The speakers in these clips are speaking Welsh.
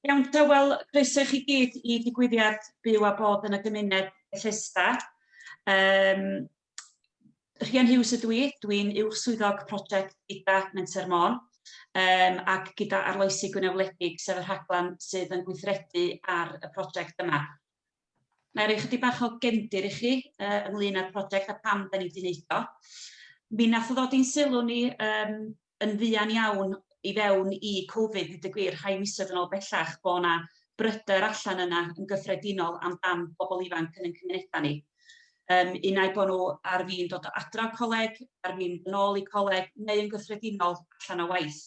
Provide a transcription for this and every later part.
Iawn te, wel, croeso i chi gyd i digwyddiad Byw a Bod yn y Gymuned Bethesda. Um, Rhian Hughes ydw i, dwi'n uwch swyddog prosiect gyda Menter Môn um, ac gyda Arloesi Gwynewledig, sef y rhaglen sydd yn gweithredu ar y prosiect yma. Mae rhoi chydig bach o gefndir i chi uh, ynglyn â'r prosiect a pam da ni wedi wneud o. Mi nath ddod i'n sylw ni um, yn fuan iawn i fewn i Covid, dweud y gwir, rhai misoedd yn ôl bellach, bod yna bryder allan yna yn gyffredinol am dan bobl ifanc yn ein cymunedau ni. Um, unai bod nhw ar fin dod o adra coleg, ar fin yn ôl i coleg, neu yn gyffredinol allan o waith.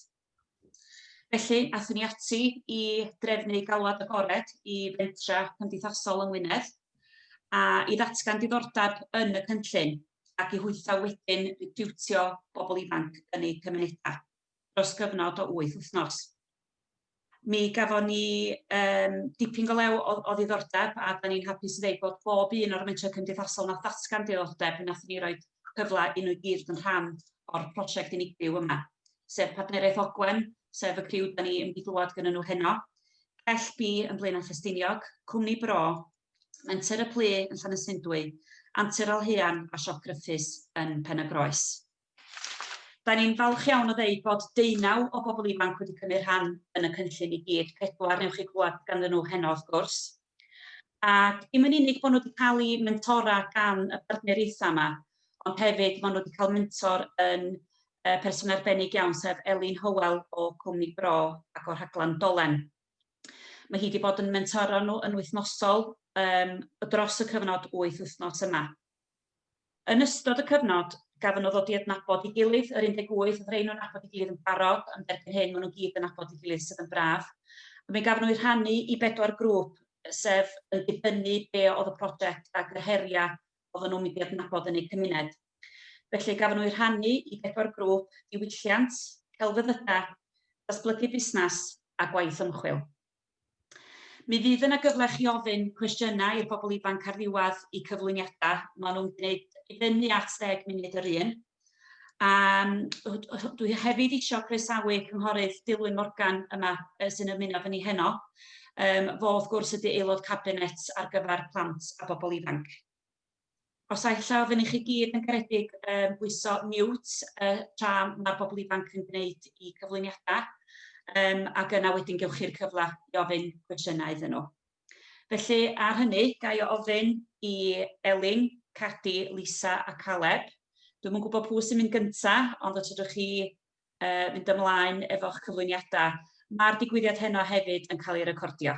Felly, aethon ni ati i drefnu galwad agored i fentra cymdeithasol yng Ngwynedd, a i ddatgan diddordeb yn y cynllun, ac i hwytho wedyn recriwtio bobl ifanc yn eu cymunedau, dros gyfnod o wyth wythnos. Mi gafon ni um, dipyn go lew o, o ddiddordeb, a da ni'n hapus i ddeud bod bob un o'r mentrau cymdeithasol na ddatgan diddordeb, nath ni roi a cyfle i nhw i gyd fod yn rhan o'r prosiect unigryw yma, sef Partneriaeth Ogwen, sef y criw da ni yn mynd i glywed gyda nhw heno, Cell B yn Blaenau Ffestiniog, Cwmni Bro, Menter y Plu yn Llanysundwy, Antur Alhean a Siop Gruffydd yn Pen-y-groes. Da ni'n falch iawn o ddeud bod deunaw o bobl ifanc wedi cymryd rhan yn y cynllun i gyd, pedwar newch chi glywed ganddyn nhw heno wrth gwrs. Ac dim yn unig bod nhw wedi cael eu mentora gan y partneriaethau yma, ond hefyd maen nhw wedi cael mentor yn yy person arbennig iawn sef Elin Hywel o Cwmni Bro ac o'r rhaglen Dolen. Mae hi wedi bod yn mentoro nhw yn wythnosol yym dros y cyfnod wyth wythnos yma. Yn ystod y cyfnod, gafon nhw ddod i adnabod ei gilydd, yr 18 oedd rhein yn nabod ei gilydd yn barod, ond erbyn hyn maen nhw gyd yn nabod ei gilydd sydd yn braf. A mi gafon nhw eu rhannu i bedwar grŵp, sef yn dibynnu be oedd y prosiect ac yr heriau oedden nhw'n mynd i adnabod yn eu cymuned. Felly gafon nhw eu rhannu i bedwar grŵp, diwylliant, celfyddydau, datblygu busnes a gwaith ymchwil. Mi fydd yna gyfle chi ofyn cwestiynau i'r bobl ifanc ar ddiwedd y cyflwyniadau. Maen nhw'n gwneud i fyny at ddeg munud yr un. A dwi hefyd eisiau croesawu Cynghorydd Dilwyn Morgan yma sy'n ymuno fy ni heno. Um, fo wrth gwrs ydy aelod cabinet ar gyfer plant a bobl ifanc. Os a ella oedden ni chi gyd yn garedig yn bwyso mute y tra mae'r bobl ifanc yn gwneud i cyflwyniadau, um, ac yna wedyn gewch chi'r cyfle i ofyn cwestiynau iddyn nhw. Felly, ar hynny, ga i ofyn i Elin, Cadi, Lisa a Caleb. Dwi'n yn gwybod pwy sy'n mynd gyntaf, ond os ydych chi uh, mynd ymlaen efo'ch cyflwyniadau, mae'r digwyddiad heno hefyd yn cael ei recordio.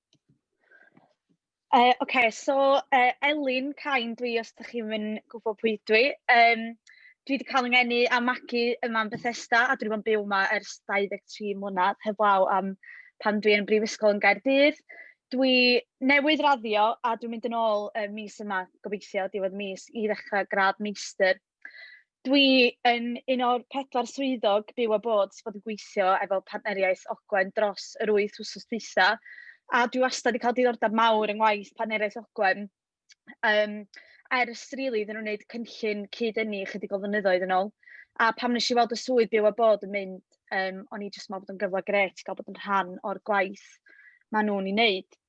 Uh, OK, so uh, Elin Cain dwi, os ydych chi'n mynd gwybod pwy dwi. Um, dwi wedi cael yngenu a magu yma yn Bethesda, a dwi wedi bod yn byw yma ers 23 mlynedd, heblaw am pan dwi yn brifysgol yn Gaerdydd. Dwi newydd raddio a dwi'n mynd yn ôl uh, mis yma, gobeithio, diwedd mis, i ddechrau gradd meistr Dwi yn un o'r pedwar swyddog byw a bod sy' bod yn gweithio efo Partneriaeth Ogwen dros yr wyth wsos dwytha, a dwi wastad 'di cael diddordeb mawr yng ngwaith Partneriaeth Ogwen, yym, ers rili iddyn nhw wneud cynllun cyd-ynni ychydig o flynyddoedd yn ôl, a pam wnes i weld y swydd byw a bod yn mynd, yym, o'n i jyst yn meddwl bod o'n gyfle grêt i gael bod yn rhan o'r gwaith maen nhw'n ei wneud.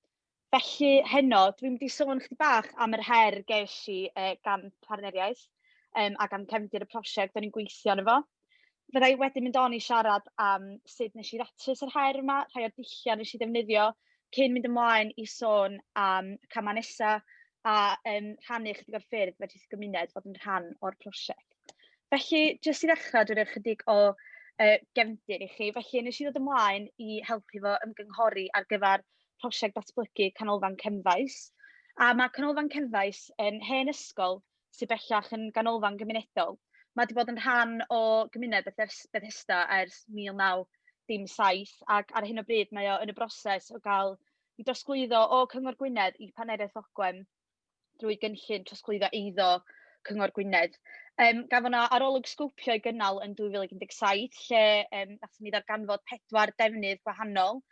Felly, heno, dwi'n mynd i sôn ychydig bach am yr her ges i, yy, gan partneriaeth, yym, ac am cefndir y prosiect o'n i'n gweithio arno fo. Fydda i wedyn mynd on i siarad am sut wnes i ddatrys yr her yma, rhai o'r dulliau wnes i ddefnyddio, cyn mynd ymlaen i sôn am y camau nesa, a, yym, rhannu ychydig o'r ffyrdd fedrith y gymuned fod yn rhan o'r prosiect. Felly, jyst i ddechrau, dwi roi ychydig o, yy, gefndir i chi. Felly, wnes i ddod ymlaen i helpu fo ymgynghori ar gyfer prosiect datblygu Canolfan Cefnfaes, a ma' Canolfan Cefnfaes yn hen ysgol sy bellach yn ganolfan gymunedol. Ma' 'di bod yn rhan o gymuned Bethes- Bethesda ers mil naw dim saith, ac ar hyn o bryd mae o yn y broses o gael ei drosglwyddo o Cyngor Gwynedd i Partneriaeth Ogwen. drwy gynllun trosglwyddo eiddo Cyngor Gwynedd. Um, gafon na arolwg sgopio i gynnal yn 2017, lle um, nathon ni ddarganfod pedwar defnydd gwahanol,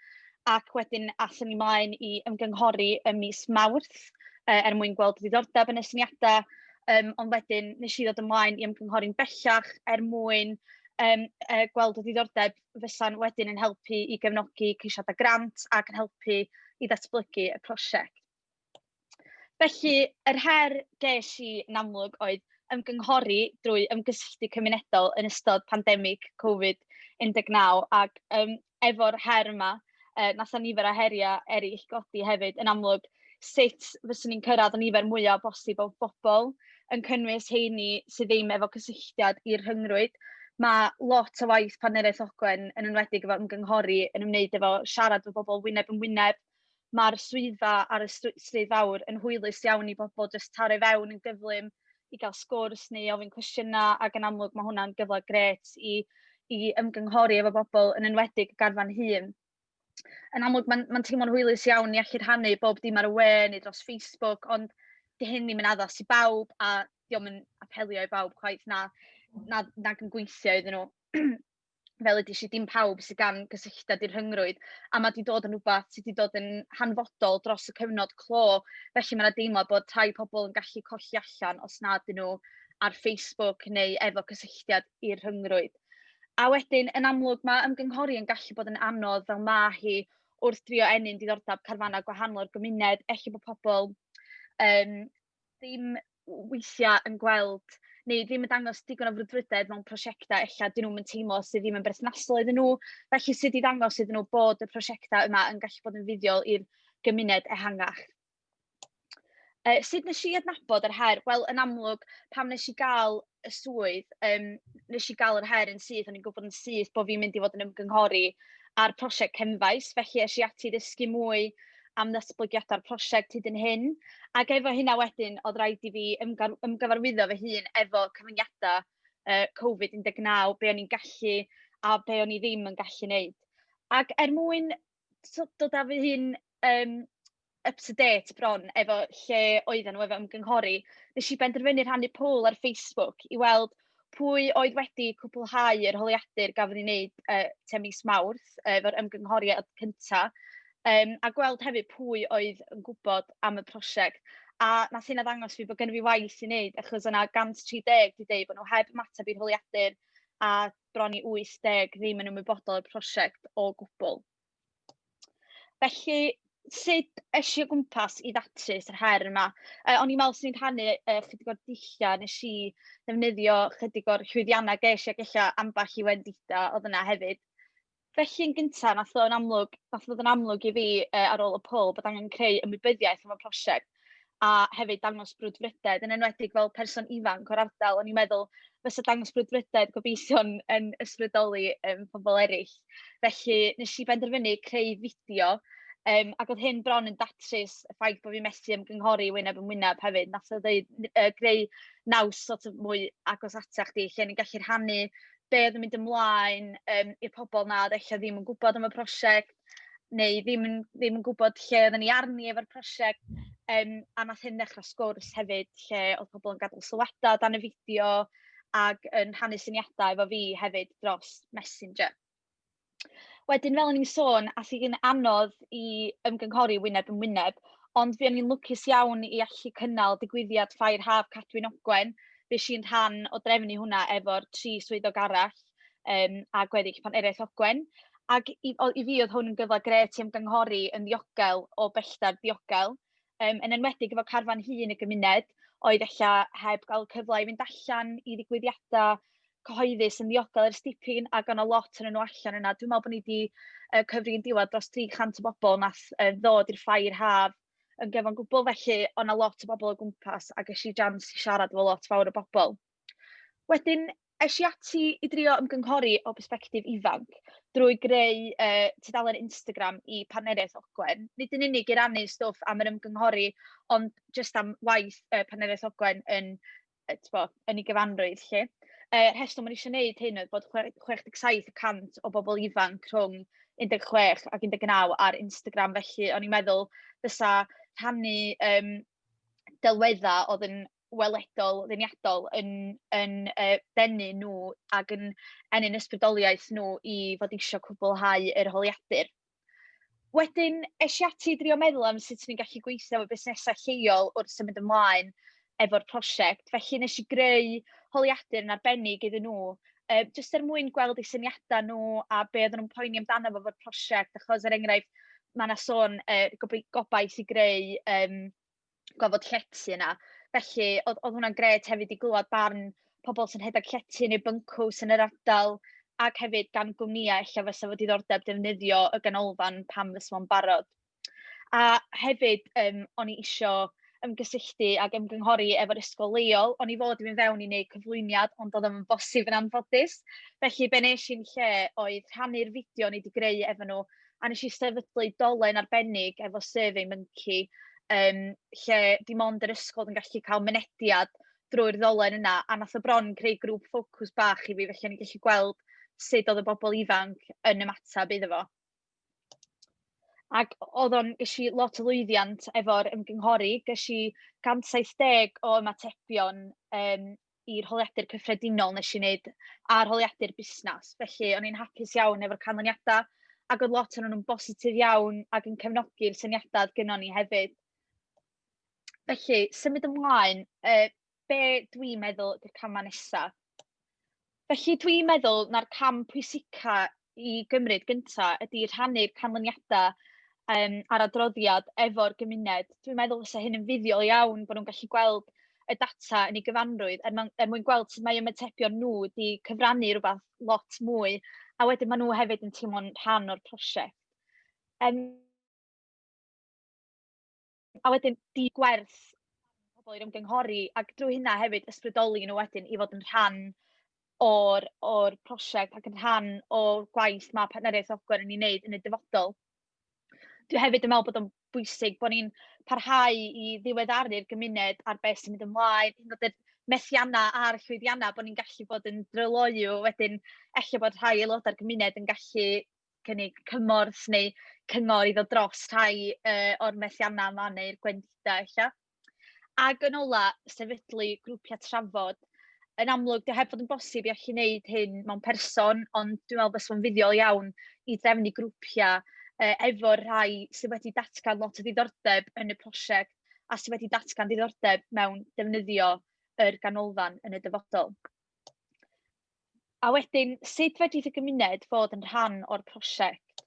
ac wedyn athon ni mlaen i ymgynghori ym mis Mawrth uh, er mwyn gweld diddordeb yn y syniadau, um, ond wedyn nes i ddod ymlaen i ymgynghori'n bellach er mwyn um, uh, gweld y diddordeb fysa'n wedyn yn helpu i gefnogi ceisiadau grant ac yn helpu i ddatblygu y prosiect. Felly, yr her ges i yn amlwg oedd ymgynghori drwy ymgysylltu cymunedol yn ystod pandemig Covid 19 ac yym efo'r her yma, yy, wnaeth 'na nifer o heriau eraill godi hefyd. Yn amlwg, sut fyswn i'n cyrraedd y nifer mwya bosib o bobl, yn cynnwys heini sydd ddim efo cysylltiad i'r rhyngrwyd. Mae lot o waith Partneriaeth Ogwen, yn enwedig efo ymgynghori, yn ymwneud efo siarad efo bobl wyneb yn wyneb, ma'r swyddfa ar y stry- stryd fawr yn hwylus iawn i bobl jyst taro i fewn yn gyflym i gael sgwrs neu ofyn cwestiynau, ac yn amlwg mae hwnna'n gyfle grêt i i ymgynghori efo bobl, yn enwedig y garfan hŷn. Yn amlwg mae'n mae'n teimlo'n hwylus iawn i allu rhannu bob dim ar y we neu dros Facebook, ond 'di hyn ddim yn addas i bawb a 'di o'm yn apelio i bawb chwaith, na na nag yn gweithio iddyn nhw. fel ydi si, dim pawb sydd gan gysylltiad i'r rhyngrwyd, a mae 'di dod yn rhywbeth sydd 'di dod yn hanfodol dros y cyfnod clo. Felly mae 'na deimlo bod rhai pobl yn gallu colli allan os nad ydyn nhw ar Facebook neu efo cysylltiad i'r rhyngrwyd. A wedyn, yn amlwg, mae ymgynghori yn gallu bod yn anodd fel mae hi wrth drio ennyn diddordeb carfannau gwahanol o'r gymuned. Ella bod pobl yym ddim weithiau yn gweld, neu ddim yn dangos digon o frwdfrydedd mewn prosiectau ella 'dyn nhw'm yn teimlo sy ddim yn berthnasol iddyn nhw. Felly sut i ddangos iddyn nhw bod y prosiectau yma yn gallu bod yn fuddiol i'r gymuned ehangach. Yy sut wnes i adnabod yr her? Wel, yn amlwg, pan wnes i gael y swydd, yym, wnes i gael yr her yn syth, o'n i'n gwybod yn syth bod fi'n mynd i fod yn ymgynghori ar prosiect Cefnfaes, felly es i ati i ddysgu mwy am ddatblygiadau'r prosiect hyd yn hyn. Ac efo hynna wedyn, oedd rhaid i fi ymgar- ymgyfarwyddo fy hun efo cyfyngiadau yy Covid 19, be o'n i'n gallu a be o'n i ddim yn gallu wneud. Ac er mwyn tibod, dod â fy hun, yym, up to date bron efo lle oedden nhw efo ymgynghori, wnes i benderfynu rhannu poll ar Facebook i weld pwy oedd wedi cwblhau yr holiadur gafodd ei wneud, yy, tua mis Mawrth, yy, efo'r ymgynghoriad cynta, yym, a gweld hefyd pwy oedd yn gwybod am y prosiect. A wnaeth hynna ddangos i fi bod gynna fi waith i wneud, achos oedd 'na 130 wedi deud bod nhw heb ymateb i'r holiadur, a... bron i 80 ddim yn ymwybodol o'r prosiect o gwbl. Felly, sut es i o gwmpas i ddatrys yr her yma? Yy, o'n i'n meddwl 'swn i'n rhannu, yy, chydig o'r dulliau nes i ddefnyddio, chydig o'r llwyddiannau ges i, ac ella ambell i wendidau oedd yna hefyd. Felly, yn gynta, wnaeth ddod yn amlwg wnaeth ddod yn amlwg i fi, yy, ar ôl y poll bod angen creu ymwybyddiaeth am y prosiect, a hefyd dangos brwdfrydedd, yn enwedig fel person ifanc o'r ardal. O'n i'n meddwl, fysa dangos brwdfrydedd gobeithio'n yn ysbrydoli, yym, pobl eraill. Felly, wnes i benderfynu creu fideo, yym, ac oedd hyn bron yn datrys y ffaith bod fi'n methu ymgynghori wyneb yn wyneb hefyd. Wnaeth o ddeud, n- yy, greu naws sort of mwy agos atach chdi, lle o'n i'n gallu rhannu be oedd yn mynd ymlaen yym i'r pobl 'na oedd ella ddim yn gwybod am y prosiect, neu ddim yn ddim yn gwybod lle oedden ni arni efo'r prosiect. Yym, a wnaeth hyn ddechrau sgwrs hefyd, lle oedd pobl yn gadael sylwadau o dan y fideo ac yn rhannu syniadau efo fi hefyd dros Messenger. Wedyn, fel o'n i'n sôn, aeth hi'n anodd i ymgynghori wyneb yn wyneb, ond fuon ni'n lwcus iawn i allu cynnal digwyddiad Ffair Haf Cadwyn Ogwen. Fues i'n rhan o drefnu hwnna efo'r tri swyddog arall, yym, a gweddill Partneriaeth Ogwen. Ac i o- i fi oedd hwn yn gyfle grêt i ymgynghori yn ddiogel o bellter diogel, yym, yn enwedig efo carfan hŷn y gymuned, oedd ella heb gael y cyfle i fynd allan i ddigwyddiadau cyhoeddus yn ddiogel ers dipyn, ac oedd 'na lot ohonyn nhw allan yna. Dwi'n meddwl bod ni 'di yy cyfri yn diwedd dros 300 o bobl wnaeth yy ddod i'r ffair haf yn gyfan gwbl, felly oedd 'na lot o bobl o gwmpas, a ges i jans i siarad efo lot fawr o bobl. Wedyn, Es i ati i drio ymgynghori o bersbectif ifanc, drwy greu, yy, tudalen Instagram i Partneriaeth Ogwen. Nid yn unig i rannu stwff am yr ymgynghori, ond jyst am waith, yy, Partneriaeth Ogwen yn, yy, tibod, yn ei gyfanrwydd 'lly. Y rheswm o'n i isio wneud hyn oedd bod chwe- 67 y cant o bobl ifanc rhwng 16 ac 19 ar Instagram, felly o'n i'n meddwl fysa rhannu, yym, delweddau oedd yn weledol, ddeniadol yn yn yy denu nhw ac yn ennyn ysbrydoliaeth nhw i fod isio cwblhau yr holiadur. Wedyn es i ati i drio meddwl am sut o'n i'n gallu gweithio efo busnesau lleol wrth symud ymlaen efo'r prosiect, felly wnes i greu holiadur yn arbennig iddyn nhw, yy jyst er mwyn gweld eu syniadau nhw a be oedden nhw'n poeni amdano fo efo'r prosiect, achos er enghraifft, ma' 'na sôn yy gobai- gobaith i greu yym... gofod llety yna. Felly, oedd oedd hwnna'n grêt hefyd i glywed barn pobl sy'n rhedeg llety neu byncws yn yr ardal, ac hefyd gan gwmnïau ella fysa fo diddordeb defnyddio y ganolfan pan fysa fo'n barod. A hefyd, yym, o'n i isio ymgysylltu ac ymgynghori efo'r ysgol leol. O'n i fod i fynd fewn i wneud cyflwyniad, ond doedd o ddim yn bosib yn anffodus. Felly, be wnes i'n lle oedd rhannu'r fideo o'n i 'di greu efo nhw a wnes i sefydlu dolen arbennig efo Survey Monkey, yym, lle dim ond yr ysgol oedd yn gallu cael mynediad drwy'r ddolen yna, a wnaeth o bron creu grŵp ffocws bach i fi, felly o'n i'n gallu gweld sut oedd y bobl ifanc yn ymateb iddo fo. Ac oedd o'n... ges i lot o lwyddiant efo'r ymgynghori, ges i 170 o ymatebion, yym, i'r holiadur cyffredinol wnes i wneud, a'r holiadur busnes. Felly, o'n i'n hapus iawn efo'r canlyniadau, ac oedd lot ohonyn nhw'n bositif iawn ac yn cefnogi'r syniadau oedd gynnon ni hefyd. Felly, symud ymlaen, yy, be dwi'n meddwl ydy'r camau nesaf? Felly, dwi'n meddwl na'r cam pwysica i gymryd gynta ydy rhannu'r canlyniada yym a'r adroddiad efo'r gymuned. Dwi'n meddwl fysa hyn yn fuddiol iawn bo' nhw'n gallu gweld y data yn ei gyfanrwydd er mwn- er mwyn gweld sut mae ymatebion nhw 'di cyfrannu rwbath lot mwy, a wedyn ma' nhw hefyd yn teimlo'n rhan o'r prosiect. Yym. A wedyn dy gwerth pobl i'r ymgynghori, ac drwy hynna hefyd ysbrydoli nhw wedyn i fod yn rhan o'r o'r prosiect ac yn rhan o gwaith ma' Partneriaeth Ogwen yn ei wneud yn y dyfodol. Dwi hefyd yn meddwl bod o'n bwysig bod ni'n parhau i ddiweddaru'r gymuned ar be sy'n mynd ymlaen, hyd yn oed yr methiannau a'r llwyddiannau, bod ni'n gallu bod yn dryloyw wedyn, ella bod rhai aelodau'r gymuned yn gallu cynnig cymorth neu cyngor i ddod dros rhai, yy, o'r methiannau yma neu'r gwendidau ella. Ac yn ola, sefydlu grwpiau trafod. Yn amlwg, 'di o heb fod yn bosib i allu wneud hyn mewn person, ond dwi'n meddwl fysa fo'n fuddiol iawn i drefnu grwpiau, yy, efo'r rhai sy wedi datgan lot o ddiddordeb yn y prosiect a sy wedi datgan diddordeb mewn defnyddio yr ganolfan yn y dyfodol. A wedyn, sut fedrith y gymuned fod yn rhan o'r prosiect?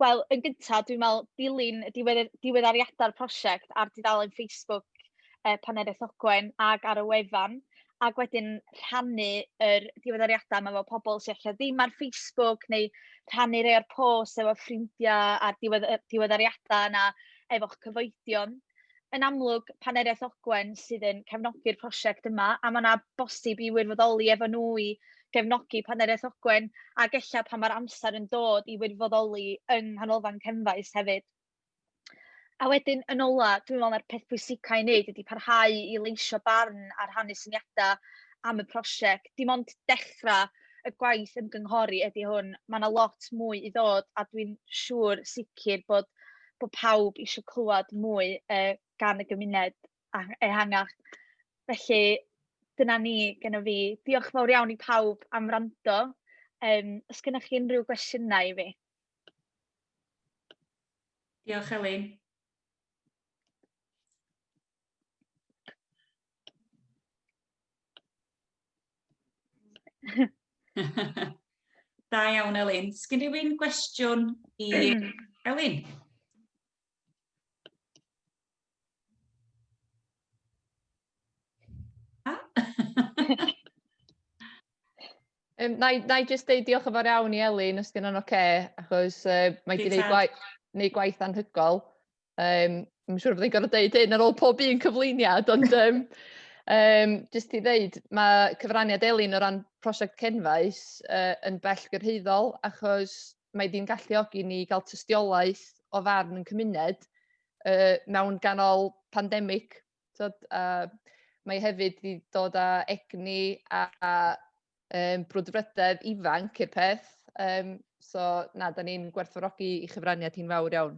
Wel, yn gynta, dwi'n meddwl, dilyn y diwedd- diweddariadau'r prosiect ar dudalen Facebook yy Paneriaeth Ogwen ac ar y wefan, ac wedyn rhannu yr diweddariadau 'ma efo pobl sy ella ddim ar Facebook, neu rhannu rhai o'r posts efo ffrindiau a'r diwedd- yy diweddariadau yna efo'ch cyfoedion. yn amlwg, Paneriaeth Ogwen sydd yn cefnogi'r prosiect yma, a ma' 'na bosib i wirfoddoli efo nhw i gefnogi Paneriaeth Ogwen, ac ella pan mae'r amser yn dod i wirfoddoli yng Nghanolfan Cefnfaes hefyd. A wedyn, yn ola, dwi'n meddwl mai'r peth pwysica i wneud ydy parhau i leisio barn a rhannu syniadau am y prosiect. Dim ond dechrau y gwaith ymgynghori ydy hwn, ma' 'na lot mwy i ddod, a dwi'n siŵr sicr bod bod pawb eisiau clywed mwy yy gan y gymuned a- ehangach. Felly, dyna ni gynna fi. Diolch yn fawr iawn i pawb am wrando. Yym, os gennych chi unrhyw gwestiynau i fi? Diolch, Elin. da iawn, Elin. Sgyn rhywun gwestiwn i Elin? Um, na, i, na i just deud diolch yn fawr iawn i Elin, os dyn nhw'n oce, okay, achos uh, mae wedi gwneud gwaith, gwaith anhygol. Um, Mae'n siŵr bod i'n gorfod dweud hyn ar ôl pob un cyflwyniad, ond um, um, jyst i ddeud, mae cyfraniad Elin o ran prosiect Cenfaes uh, yn bell gyrhaeddol achos mae ddim galluogi ni gael tystiolaeth o farn yn cymuned uh, mewn ganol pandemig. So, uh, mae hefyd wedi dod â egni a, a um, brwdfrydedd ifanc i'r peth. Um, so, na, da ni'n gwerthfawrogi i chyfraniad hi'n fawr iawn.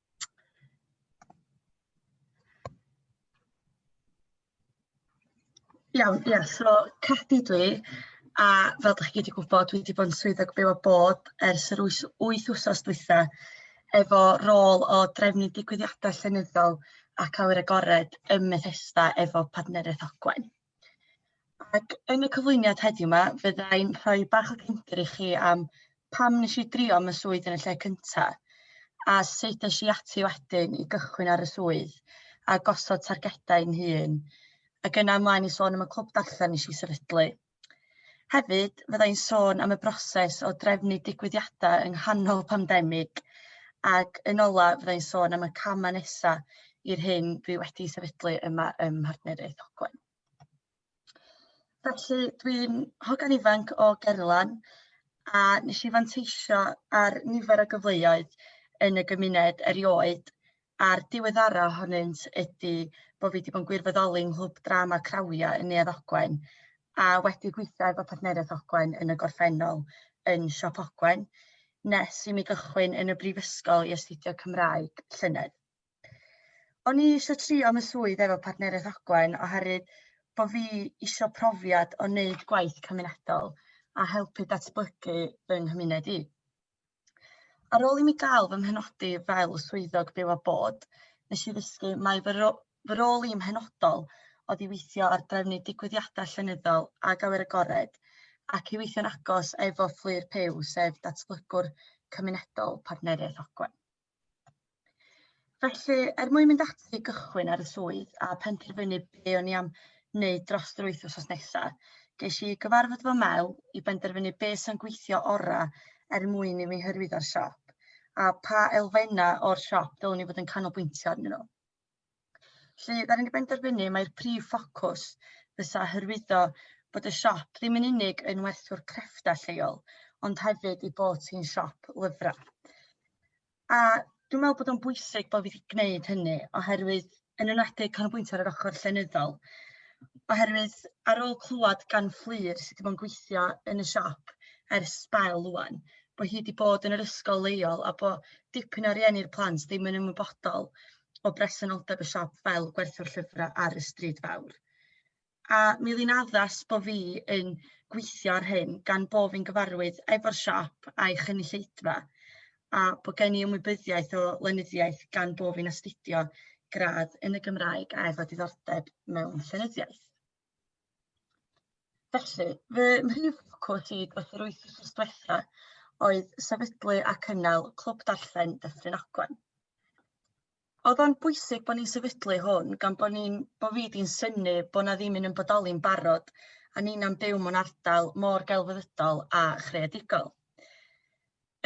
Iawn ia so Catti dw i a fel 'dach chi gyd yn gwbod dwi 'di bod yn swyddog byw a bod ers yr wyth wyth wsos dwitha efo rôl o drefnu digwyddiada llenyddol ac awyr agored ym Methesda efo partneriaeth Ogwen. Ac yn y cyflwyniad heddiw 'ma fydda i'n rhoi bach o gefndir i chi am pam wnes i drio am y swydd yn y lle cynta, a sut es i ati wedyn i gychwyn ar y swydd a gosod targedau i'n hun, ac yna ymlaen i sôn am y clwb darllen nes i sefydlu. Hefyd, fydda i'n sôn am y broses o drefnu digwyddiadau yng nghanol pandemig, ac yn ola fydda i'n sôn am y camau nesaf i'r hyn dwi wedi sefydlu yma ym Mhartneriaeth Ogwen. Felly, dwi'n hogan ifanc o Gerlan a nes i fanteisio ar nifer o gyfleoedd yn y gymuned erioed a'r diweddara ohonynt ydi bo' fi 'di bod yn gwirfoddoli yng Nghlwb Drama Crawia yn Neuadd Ogwen a wedi gweithio efo Partneriaeth Ogwen yn y gorffennol yn Siop Ogwen nes i mi gychwyn yn y brifysgol i astudio Cymraeg llynedd. O'n i eisiau trio am y swydd efo Partneriaeth Ogwen oherwydd bo' fi isio profiad o wneud gwaith cymunedol a helpu datblygu fy nghymuned i. Ar ôl i mi gael fy mhenodi fel swyddog byw a bod, nes i ddysgu mai fy ro- fy rôl i'n mhenodol oedd i weithio ar drefnu digwyddiadau llenyddol ag awyr agored ac i weithio'n agos efo Fflur Puw, sef datblygwr cymunedol Partneriaeth Ogwen. Felly, er mwyn mynd ati i gychwyn ar y swydd a penderfynu be o'n i am wneud dros yr wyth wsos nesa, ges i gyfarfod fy mel i benderfynu be sy'n gweithio ora er mwyn i mi hyrwyddo'r siop, a pa elfenna o'r siop dylwn i fod yn canolbwyntio arnyn nhw. Felly, dan ni wedi penderfynu mai'r prif ffocws fysa hyrwyddo bod y siop ddim yn unig yn werthwr crefftau lleol, ond hefyd ei bod hi'n siop lyfrau. A dwi'n meddwl bod o'n bwysig bod fi wedi gwneud hynny, oherwydd yn enwedig canolbwyntio ar yr ochr llenyddol, oherwydd ar ôl clywed gan Fflur sydd wedi bod yn gweithio yn y siop ers sbel rŵan, bo' hi 'di bod yn yr ysgol leol a bo' dipyn o rieni'r plant ddim yn ymwybodol o bresenoldeb y siop fel gwerthwr llyfra ar y stryd fawr. A mi o'dd 'i'n addas bo' fi yn gweithio ar hyn gan bo' fi'n gyfarwydd efo'r siop a'i chynulleidfa a bo' gen i ymwybyddiaeth o lenyddiaeth gan bo' fi'n astudio gradd yn y Gymraeg a efo diddordeb mewn llenyddiaeth. Felly, fy mhrif ffocws i dros yr wythnos dwetha oedd sefydlu a cynnal Clwb Darllen Dyffryn Ogwen. Oedd o'n bwysig bod ni'n sefydlu hwn gan bod ni'n bod fi 'di'n synnu bod 'na ddim un yn bodoli'n barod a nina'n byw mewn ardal mor gelfyddydol a chreadigol.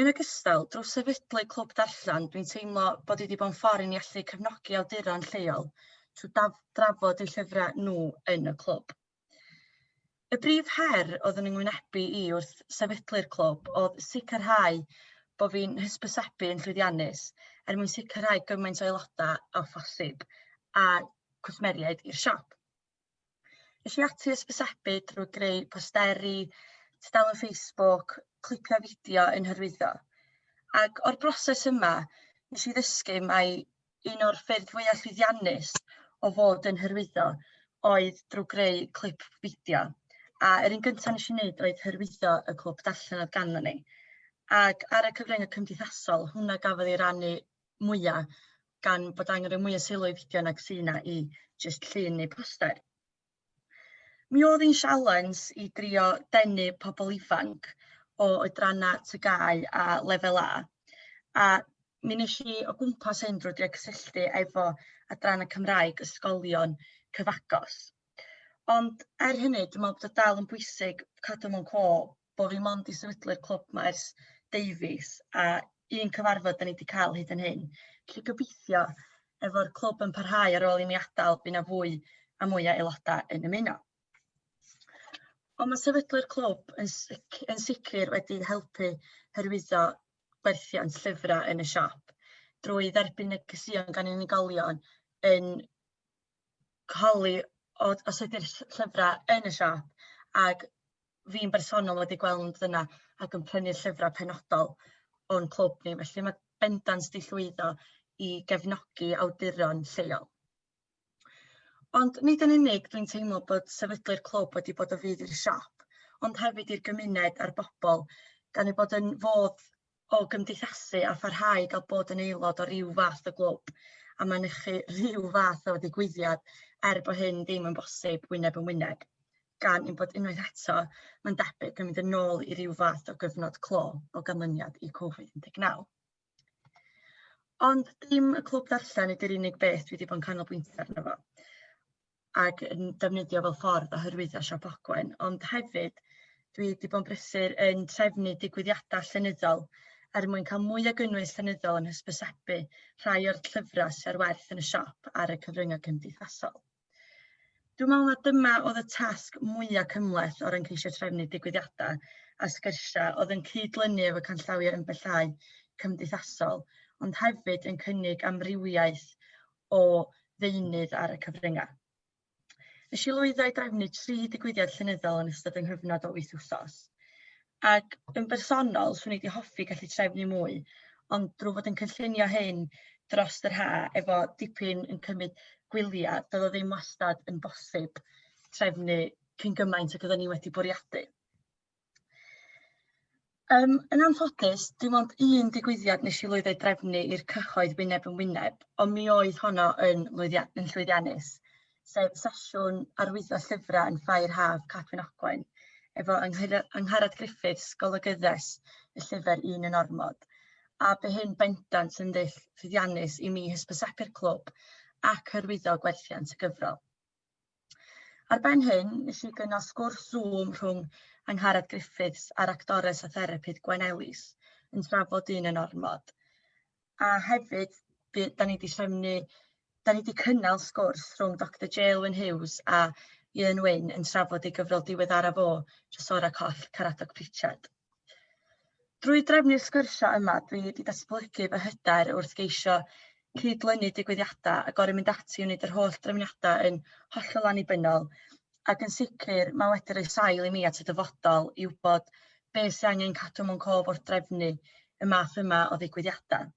Yn ogystal, drwy sefydlu Clwb Darllen, dwi'n teimlo bod hi 'di bod yn ffordd i ni allu cefnogi awduron lleol trwy daf- drafod eu llyfrau nhw yn y clwb. Y brif her oedd yn yngwynebu i wrth sefydlu'r clwb oedd sicrhau bod fi'n hysbysebu yn llwyddiannus er mwyn sicrhau gymaint o aelodau â phosib a cwsmeriaid i'r siop. Es i ati ysbysebu drwy greu posteri, tudalen Facebook, clipiau fideo yn hyrwyddo. Ac o'r broses yma, nes i ddysgu mai un o'r ffyrdd fwyaf llwyddiannus o fod yn hyrwyddo oedd drwy greu clip fideo. A yr un gyntaf nes i wneud oedd hyrwyddo y clwb darllen oedd ganddo ni. Ac ar y cyfryngau cymdeithasol, hwnna gafodd ei rannu mwya' gan bod angen rhoi mwy o sylw i fideo nag sy' 'na i jyst llun neu poster. Mi o'dd 'i'n sialens i drio denu pobl ifanc o oedranna' TGAU a Lefel A a mi nesh i o gwmpas hyn drw drio cysylltu efo Adranna' Cymraeg ysgolion cyfagos ond er hynny dwi me'wl bod o dal yn bwysig cadw mewn cô bod fi mond 'di sefydlu'r Clwb Maes Davies a un cyfarfod dan ni 'di cael hyd yn hyn. Felly gobeithio efo'r clwb yn parhau ar ôl i mi adael bydd 'na fwy a mwy o aelodau yn ymuno. Ond mae sefydlu'r clwb yn, sic yn sicr wedi helpu hyrwyddo gwerthiant llyfrau yn y siop drwy dderbyn negeseuon gan unigolion yn holi o os ydy'r ll- llyfrau yn y siop ac fi'n bersonol wedi gweld yna ac yn prynu llyfrau penodol o'n clwb ni, felly mae bendant 'di llwyddo i gefnogi awduron lleol. Ond nid yn unig dwi'n teimlo bod sefydlu'r clwb wedi bod o fudd i'r siop ond hefyd i'r gymuned a'r bobl gan ei bod yn fodd o gymdeithasu a pharhau i gael bod yn aelod o ryw fath o glwb a mynychu rhyw fath o ddigwyddiad er bod hyn ddim yn bosib wyneb yn wyneb, gan ein bod unwaith eto, mae'n debyg, yn mynd yn ôl i ryw fath o gyfnod clo o ganlyniad i Covid-19. Ond dim y clwb ddarllen ydy'r unig beth dwi wedi bod yn canolbwyntio arno fo. ac yn defnyddio fel ffordd o hyrwyddo siop Ogwen ond hefyd dwi 'di bod yn brysur yn trefnu digwyddiadau llenyddol er mwyn cael mwy o gynnwys llenyddol yn hysbysebu rhai o'r llyfrau sydd ar werth yn y siop ar y cyfryngau cymdeithasol. Dwi'n meddwl na dyma oedd y tasg mwyaf cymhleth o ran ceisio trefnu digwyddiadau a sgyrsiau oedd yn cyd-lynu efo canllawiau ymbellhau cymdeithasol ond hefyd yn cynnig amrywiaeth o ddeunydd ar y cyfryngau. Nes i lwyddo i drefnu tri digwyddiad llenyddol yn ystod yng nghyfnod o wyth wsos. Ac yn bersonol, swn i wedi hoffi gallu trefnu mwy, ond drwy fod yn cynllunio hyn dros yr ha efo dipyn yn cymryd gwyliau, doedd o ddim wastad yn bosib trefnu cyn gymaint ac oedden ni wedi bwriadu. Yym yn anffodus dim ond un digwyddiad wnes i lwyddo i drefnu i'r cyhoedd wyneb yn wyneb ond mi oedd honno yn lwyddia- yn llwyddiannus sef sesiwn arwyddo llyfrau yn Ffair Haf Cadwyn Ogwen efo Anghy- Angharad Griffiths golygyddes y llyfr Un yn Ormod a bu hyn bendant yn ddull llwyddiannus i mi hysbysebu'r clwb ac hyrwyddo gwerthiant y gyfrol. Ar ben hyn, nes i gynnal sgwrs Zoom rhwng Angharad Griffiths a'r actores a therapydd Gwen Ellis yn trafod dyn yn ormod. A hefyd, by- da ni wedi trefnu, da ni wedi cynnal sgwrs rhwng Doctor Jaelwyn Hughes a Ieuan Wyn yn trafod ei gyfrol diweddaraf o, Trysorau Coll, Caradoc Pritchard. Drwy drefnu'r sgyrsiau yma dwi wedi datblygu fy hyder wrth geisio cyd-lynu digwyddiadau a gorau mynd ati i wneud yr holl drefniadau yn hollol annibynnol ac yn sicr mae wedi rhoi sail i mi at y dyfodol i wybod be sy'n angen cadw mewn cof wrth drefnu y math yma o ddigwyddiadau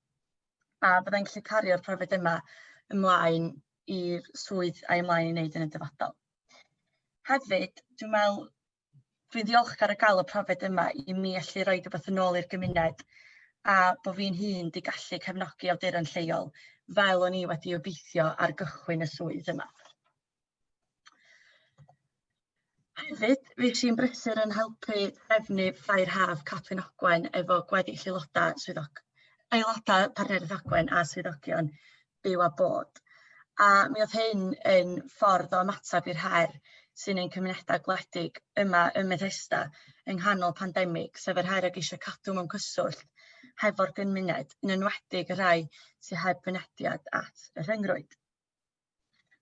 a byddai'n gallu cario'r profiad yma ymlaen i'r swydd a'i ymlaen i wneud yn y dyfodol. Hefyd, dwi'n meddwl fi'n ddiolchgar o gael y profiad yma i mi allu roi rhywbeth yn ôl i'r gymuned a bod fi'n hun 'di gallu cefnogi awduron lleol fel o'n i wedi obeithio ar gychwyn y swydd yma. Hefyd, fi sy'n brysur yn helpu trefnu Ffair Haf Catrin Ogwen efo gweddill aelodau swyddog aelodau partneriaeth Ogwen a swyddogion byw a bod. A mi oedd hyn yn ffordd o ymateb i'r her sy'n ein cymunedau gwledig yma ym Methesda yng nghanol pandemig, sef yr her o geisio cadw mewn cyswllt hefo'r gymuned, yn enwedig y rhai sy'n heb fynediad at y rhyngrwyd.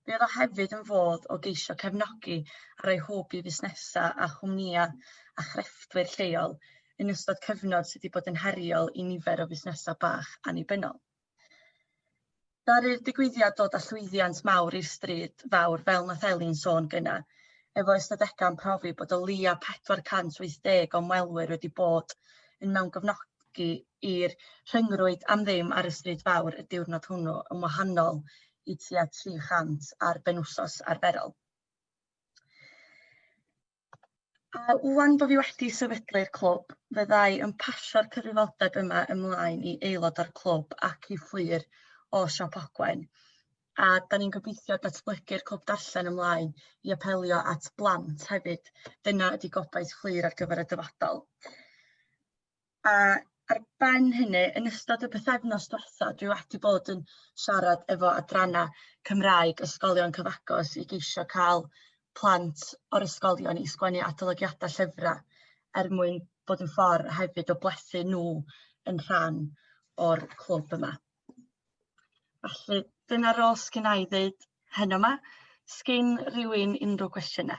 Fe oedd o hefyd yn fodd o geisio cefnogi a rhoi hwb i fusnesau a chwmnïau a chrefftwyr lleol yn ystod cyfnod sydd wedi bod yn heriol i nifer o fusnesau bach annibynnol. Ddaru'r digwyddiad dod â llwyddiant mawr i'r stryd fawr fel nath Elin sôn gyna, efo ystadegau'n profi bod o leia' 480 o ymwelwyr wedi bod yn mewn gofnodi i'r rhyngrwyd am ddim ar y stryd fawr y diwrnod hwnnw yn wahanol i tua 300 ar benwsos arferol. A ŵan bo' fi wedi sefydlu i'r clwb, fyddai yn pasio'r cyfrifoldeb yma ymlaen i aelod o'r clwb ac i ffwyr o Siop Ogwen. A da ni'n gobeithio datblygu'r clwb darllen ymlaen i apelio at blant hefyd. Dyna ydi gobaith ffwyr ar gyfer y dyfodol. a ar ben hynny yn ystod y pythefnos dwetha dwi wedi bod yn siarad efo adrana Cymraeg ysgolion cyfagos i geisio cael plant o'r ysgolion i sgwennu adolygiadau llyfrau er mwyn bod yn ffordd hefyd o blethu nhw yn rhan o'r clwb yma. Felly dyna rôl sgyn i ddeud heno yma. Sgyn rhywun unrhyw gwestiynau?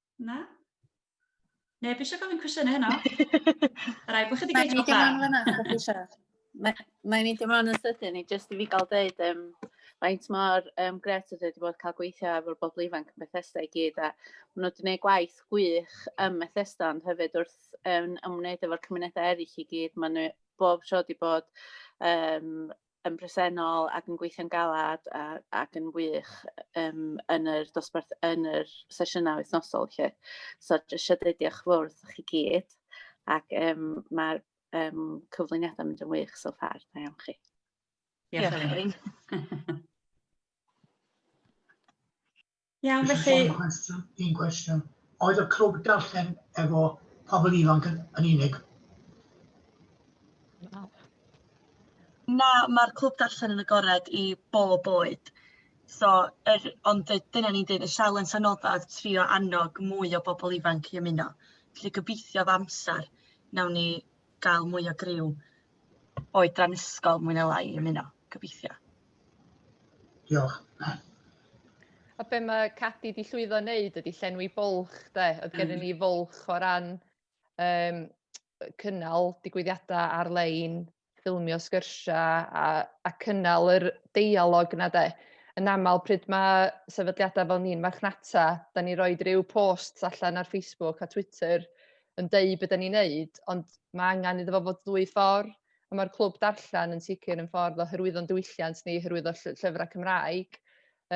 Na? Neb eisiau gofyn cwestiynau heno. Rai, bod chi wedi gweithio da. Mae'n mynd ymlaen fyna, chi eisiau. Mae'n mynd ymlaen yn sydyn i jyst i fi gael dweud um, faint mor um, gret ydy wedi bod cael gweithio efo'r bobl ifanc yn Bethesda i gyd a maen nhw wedi gwneud gwaith gwych ym Bethesda ond hefyd wrth um, ymwneud efo'r cymunedau eraill i gyd. Maen nhw bob tro wedi bod um, yn bresennol ac yn gweithio'n galed a ac yn wych yym yn yr dosbarth yn yr sesiynau wythnosol 'lly. So jyst isio deud diolch yn fawr wrthych chi gyd ac yym ma'r yym cyflwyniadau'n mynd yn wych so far. Da iawn chi. Diolch Elin. Iawn, felly... Dwi isio gofyn cwestiwn, un cwestiwn. Oedd y clwb darllen efo pobl ifanc yn, yn unig? Na, mae'r clwb darllen yn agored i bob oed. So, er, ond dyna ni'n dweud, y sialens anodda oedd trio annog mwy o bobl ifanc i ymuno. Felly gobeithio fy amser, nawn ni gael mwy o griw oedran ysgol mwy neu lai i ymuno, gobeithio. Diolch. A be mae Cadi di llwyddo wneud ydy llenwi bwlch, de? Oedd gen ni fwlch o ran um, cynnal digwyddiadau ar-lein, ffilmio sgyrsiau a, a cynnal yr deialog yna, de? Yn aml, pryd mae sefydliadau fel ni'n marchnata, da ni roed rhyw posts allan ar Facebook a Twitter yn deud be dan ni'n wneud, ond mae angen iddo fo fod ddwy ffordd, a mae'r clwb darllen yn sicr yn ffordd o hyrwyddo'n diwylliant ni, hyrwyddo lly- llyfrau Cymraeg,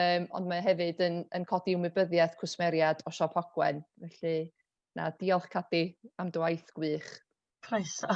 um, ond mae hefyd yn, yn codi ymwybyddiaeth cwsmeriad o siop Hogwen. Felly, na, diolch Cadi am dy waith gwych. Croeso.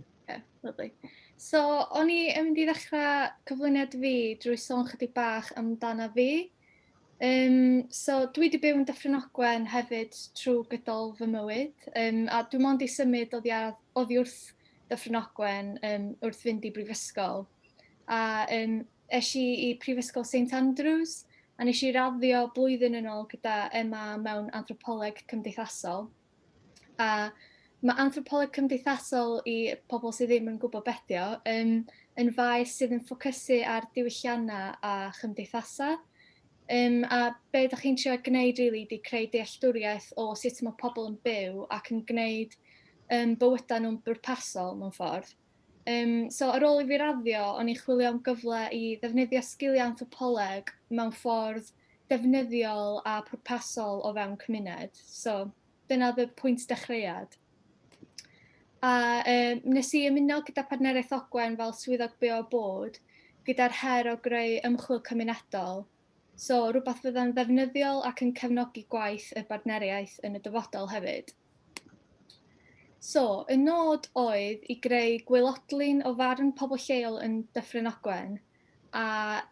Oce, lyfli. So, o'n i yn mynd i ddechrau cyflwyniad fi drwy sôn chydig bach amdana fi. Um, so, dwi wedi byw yn Dyffryn Ogwen hefyd trwy gydol fy mywyd, um, a dwi'n mond i symud oddi, ar, oddi wrth Dyffryn Ogwen um, wrth fynd i brifysgol. A um, es i i Prifysgol St Andrews, a nes i raddio blwyddyn yn ôl gyda Emma mewn anthropoleg cymdeithasol. a mae anthropoleg cymdeithasol i pobl sydd ddim yn gwybod bedio yn, yn faes sydd yn ffocysu ar diwylliannau a chymdeithasau. Um, a be ydych chi'n trio gwneud really, di creu dealltwriaeth o sut mae pobl yn byw ac yn gwneud um, bywydau nhw'n bwrpasol mewn ffordd. Yym, so ar ôl i fi raddio, o'n i'n chwilio am gyfle i ddefnyddio sgiliau anthropoleg mewn ffordd defnyddiol a pwrpasol o fewn cymuned. So, dyna oedd y pwynt dechreuad. A um, nes i ymuno gyda Partneriaeth Ogwen fel swyddog byw a bod, gyda'r her o greu ymchwil cymunedol, so rhywbeth fydda'n ddefnyddiol ac yn cefnogi gwaith y bartneriaeth yn y dyfodol hefyd. So, y nod oedd i greu gwaelodlin o farn pobl lleol yn Dyffryn Ogwen, a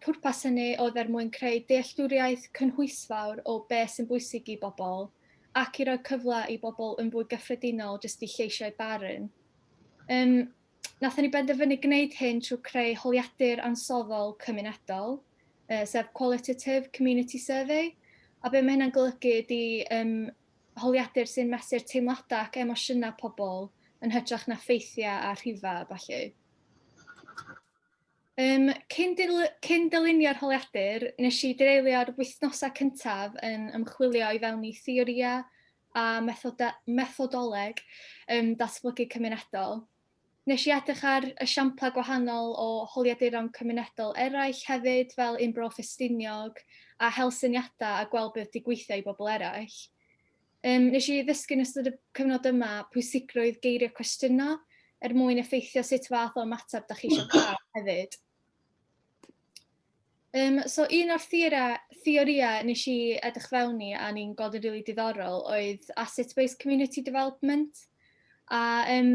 pwrpas hynny oedd er mwyn creu dealltwriaeth cynhwysfawr o be sy'n bwysig i bobl, ac i roi cyfle i bobl yn fwy gyffredinol jyst i lleisiau barn. Um, Nathon ni benderfynu gwneud hyn trwy creu holiadur ansoddol cymunedol, uh, sef Qualitative Community Survey, a be mae hynna'n golygu ydy um, holiadur sy'n mesur teimladau ac emosiynau pobl yn hytrach na ffeithiau a rhifau a ballu. Um, cyn, dil, cyn dylunio'r holiadur, nes i dreulio'r wythnosau cyntaf yn ymchwilio i fewn i theoria a methoda, methodoleg um, datblygu cymunedol. Nes i edrych ar esiamplau gwahanol o holiaduron cymunedol eraill hefyd, fel un Bro Ffestiniog, a hel syniadau a gweld beth di gweithio i bobl eraill. Um, nes i ddysgu yn ystod y cyfnod yma pwysigrwydd geirio cwestiyno er mwyn effeithio sut fath o ymateb da chi eisiau cael hefyd. Um, so un o'r theoria nes i edrych fewn i a ni'n gweld yn rili really diddorol oedd asset-based community development. A um,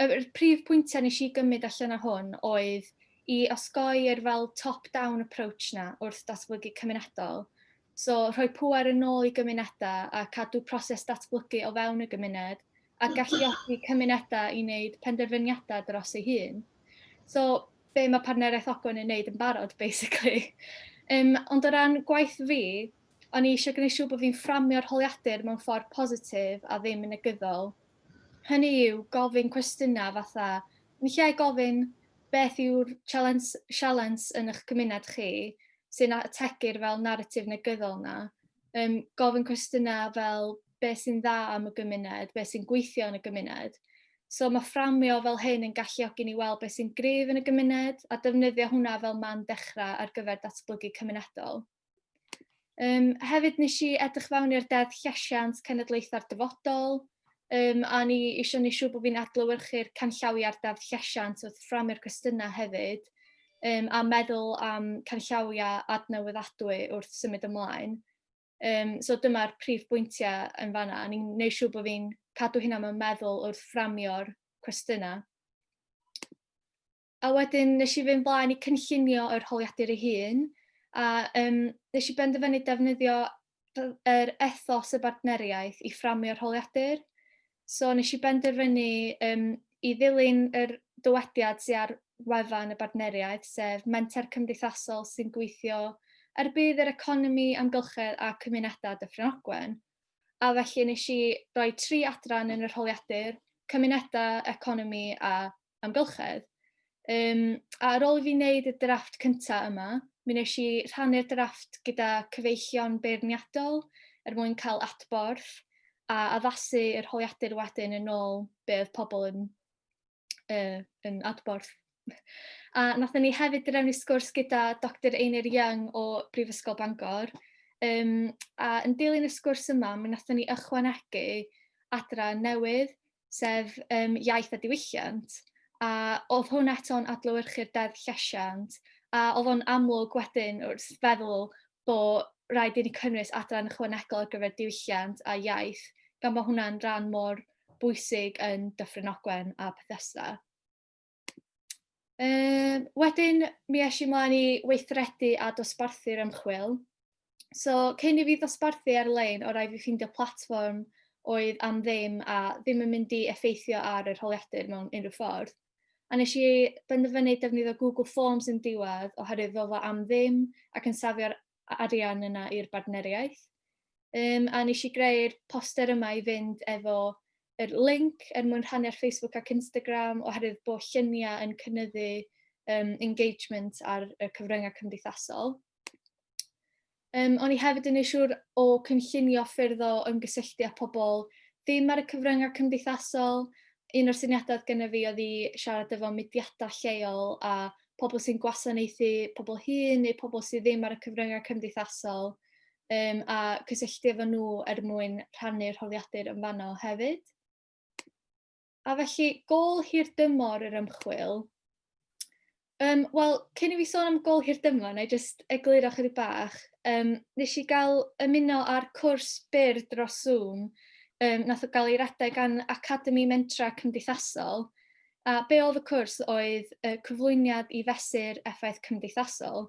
y prif pwyntiau nes i gymryd allan o hwn oedd i osgoi yr fel top-down approach na wrth datblygu cymunedol So, rhoi pŵer yn ôl i gymunedau a cadw proses datblygu o fewn y gymuned a galluogi cymunedau i wneud penderfyniadau dros ei hun. So, be mae Partneriaeth Ogwen yn wneud yn barod, basically. Um, ond o ran gwaith fi, o'n i eisiau gwneud siŵr bod fi'n fframio'r holiadur mewn ffordd positif a ddim yn negyddol. Hynny yw gofyn cwestiynau fatha, ni lle gofyn beth yw'r sialens yn eich cymuned chi, sy'n ategu'r fel narratif negyddol yna, um, gofyn cwestiynau fel beth sy'n dda am y gymuned, beth sy'n gweithio yn y gymuned. So mae fframio fel hyn yn galluogi ni weld beth sy'n grif yn y gymuned a defnyddio hwnna fel man dechrau ar gyfer datblygu cymunedol. Um, hefyd nes i edrych fewn i'r deddf llesiant cenedlaethau'r dyfodol, Yym, a o'n i isio wneud siŵr bod fi'n adlewyrchu'r canllawiau'r Deddf Llesiant wrth fframio'r cwestiynau hefyd, yym, a meddwl am canllawiau adnewyddadwy wrth symud ymlaen. Yym, so dyma'r prif bwyntiau yn fanna. O'n i'n gwneud siŵr bod fi'n cadw hynna mewn meddwl wrth fframio'r cwestiynau. a wedyn nes i fynd blaen i cynllunio yr holiadur ei hun, a um, nes i benderfynu defnyddio yr ethos y bartneriaeth i fframio'r holiadur. So nes i benderfynu um, i ddilyn yr dywediad sy'n ar wefan y bartneriaeth, sef menter cymdeithasol sy'n gweithio ar er bydd yr economi, amgylchedd a cymunedau Dyffryn Ogwen. A felly nes i roi tri adran yn yr holiadur, cymunedau, economi a amgylchedd. Um, a ar ôl i fi wneud y drafft cyntaf yma, mi nes i rhannu'r drafft gyda cyfeillion beirniadol er mwyn cael adborth a addasu yr holiadur wedyn yn ôl be oedd pobl yn, uh, yn adborth. A nath ni hefyd drefnu sgwrs gyda Dr Einir Young o Brifysgol Bangor. Um, a yn dilyn y sgwrs yma, mi nath ni ychwanegu adran newydd sef yym iaith a diwylliant, a oedd hwn eto'n adlewyrchu'r deddf llesiant, a oedd o'n amlwg wedyn wrth feddwl bod rhaid i ni cynnwys adran ychwanegol ar gyfer diwylliant a iaith, gan bod hwnna'n rhan mor bwysig yn Dyffryn Ogwen a Bethesda. Um, wedyn, mi eisiau i mlaen i weithredu a dosbarthu'r ymchwil. So, cyn i fi ddosbarthu ar-lein, o rai fi ffeindio platform oedd am ddim a ddim yn mynd i effeithio ar yr holiadur mewn unrhyw ffordd. A nes i benderfynu defnyddio Google Forms yn diwedd oherwydd fel fo am ddim ac yn safio'r arian yna i'r bartneriaeth. Um, a nes i greu'r poster yma i fynd efo yr link er mwyn rhannu ar Facebook ac Instagram oherwydd bod lluniau yn cynnyddu um, engagement ar y cyfryngau cymdeithasol. Um, o'n i hefyd yn eisiau o cynllunio ffyrdd o ymgysylltu â pobl ddim ar y cyfryngau cymdeithasol. Un o'r syniadau gyda fi oedd i siarad efo mudiadau lleol a pobl sy'n gwasanaethu pobl hŷn neu pobl sydd ddim ar y cyfryngau cymdeithasol um, a cysylltu efo nhw er mwyn rhannu'r rhoddiadur yn fanno hefyd. A felly, gol hir dymor yr ymchwil. Um, Wel, cyn i fi sôn am gol hir dymor, na i jyst egluro chydig bach, um, nes i gael ymuno ar cwrs byr dros Zoom, um, nath o gael ei redeg gan Academi Mentra Cymdeithasol, A be oedd y cwrs oedd y cyflwyniad i fesur effaith cymdeithasol,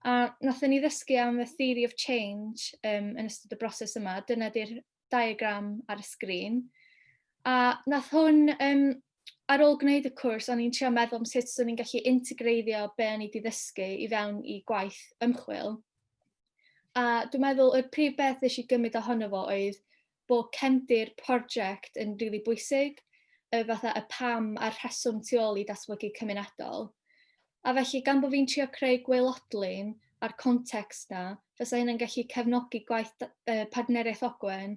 a wnaethon ni ddysgu am y theory of change um, yn ystod y broses yma. Dyna di'r diagram ar y sgrin. A nath hwn, um, ar ôl gwneud y cwrs, o'n i'n trio meddwl am sut o'n i'n gallu integreiddio be o'n i wedi ddysgu i fewn i gwaith ymchwil. A dwi'n meddwl y prif beth nes i gymryd ohono fo oedd bo' cefndir project yn rili bwysig, y fatha y pam a'r rheswm tu ôl i datblygu cymunedol. A felly, gan bo' fi'n trio creu gwaelodlin a'r context 'na, fysa hynna'n gallu cefnogi gwaith uh, Partneriaeth Ogwen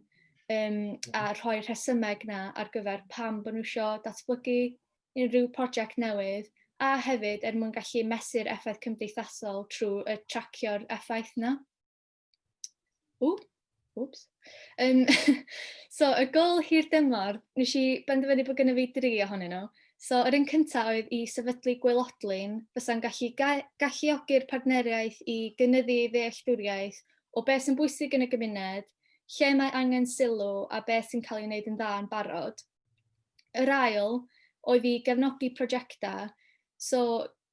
um, a rhoi'r rhesymeg 'na ar gyfer pam bod nhw eisiau datblygu unrhyw prosiect newydd, a hefyd er mwyn gallu mesur effaith cymdeithasol trwy y tracio'r effaith 'na. Ww, wps. Um, so, y gol hir dymor, nes i benderfynu bod gyda fi dri ohonyn nhw. So, yr un cyntaf oedd i sefydlu gwelodlun fysa'n gallu ga galluogi'r partneriaeth i gynyddu ddealltwriaeth o beth sy'n bwysig yn y gymuned, lle mae angen sylw a beth sy'n cael ei wneud yn dda yn barod. Yr ail oedd i gefnogi prosiectau, so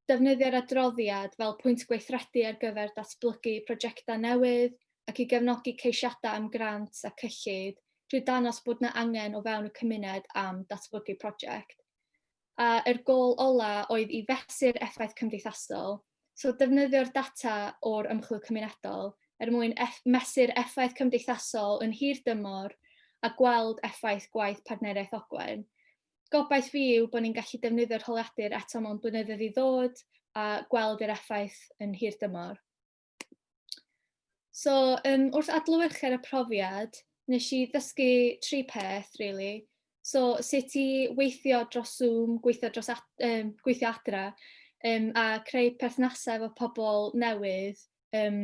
Defnyddio'r adroddiad fel pwynt gweithredu ar gyfer datblygu prosiectau newydd ac i gefnogi ceisiadau am grant a cyllid drwy dangos bod yna angen o fewn y cymuned am datblygu prosiect. A yr gôl ola oedd i fesur effaith cymdeithasol, so defnyddio'r data o'r ymchwil cymunedol er mwyn eff mesur effaith cymdeithasol yn hir dymor a gweld effaith gwaith Partneriaeth Ogwen. gobaith fi yw bod ni'n gallu defnyddio'r holiadur eto mewn blynyddoedd i ddod a gweld yr effaith yn hir dymor. So, um, wrth adlywyrchu ar y profiad, nes i ddysgu tri peth, really. So, sut i weithio dros Zoom, gweithio, dros ad, um, gweithio adra, um, a creu perthnasau efo pobl newydd um,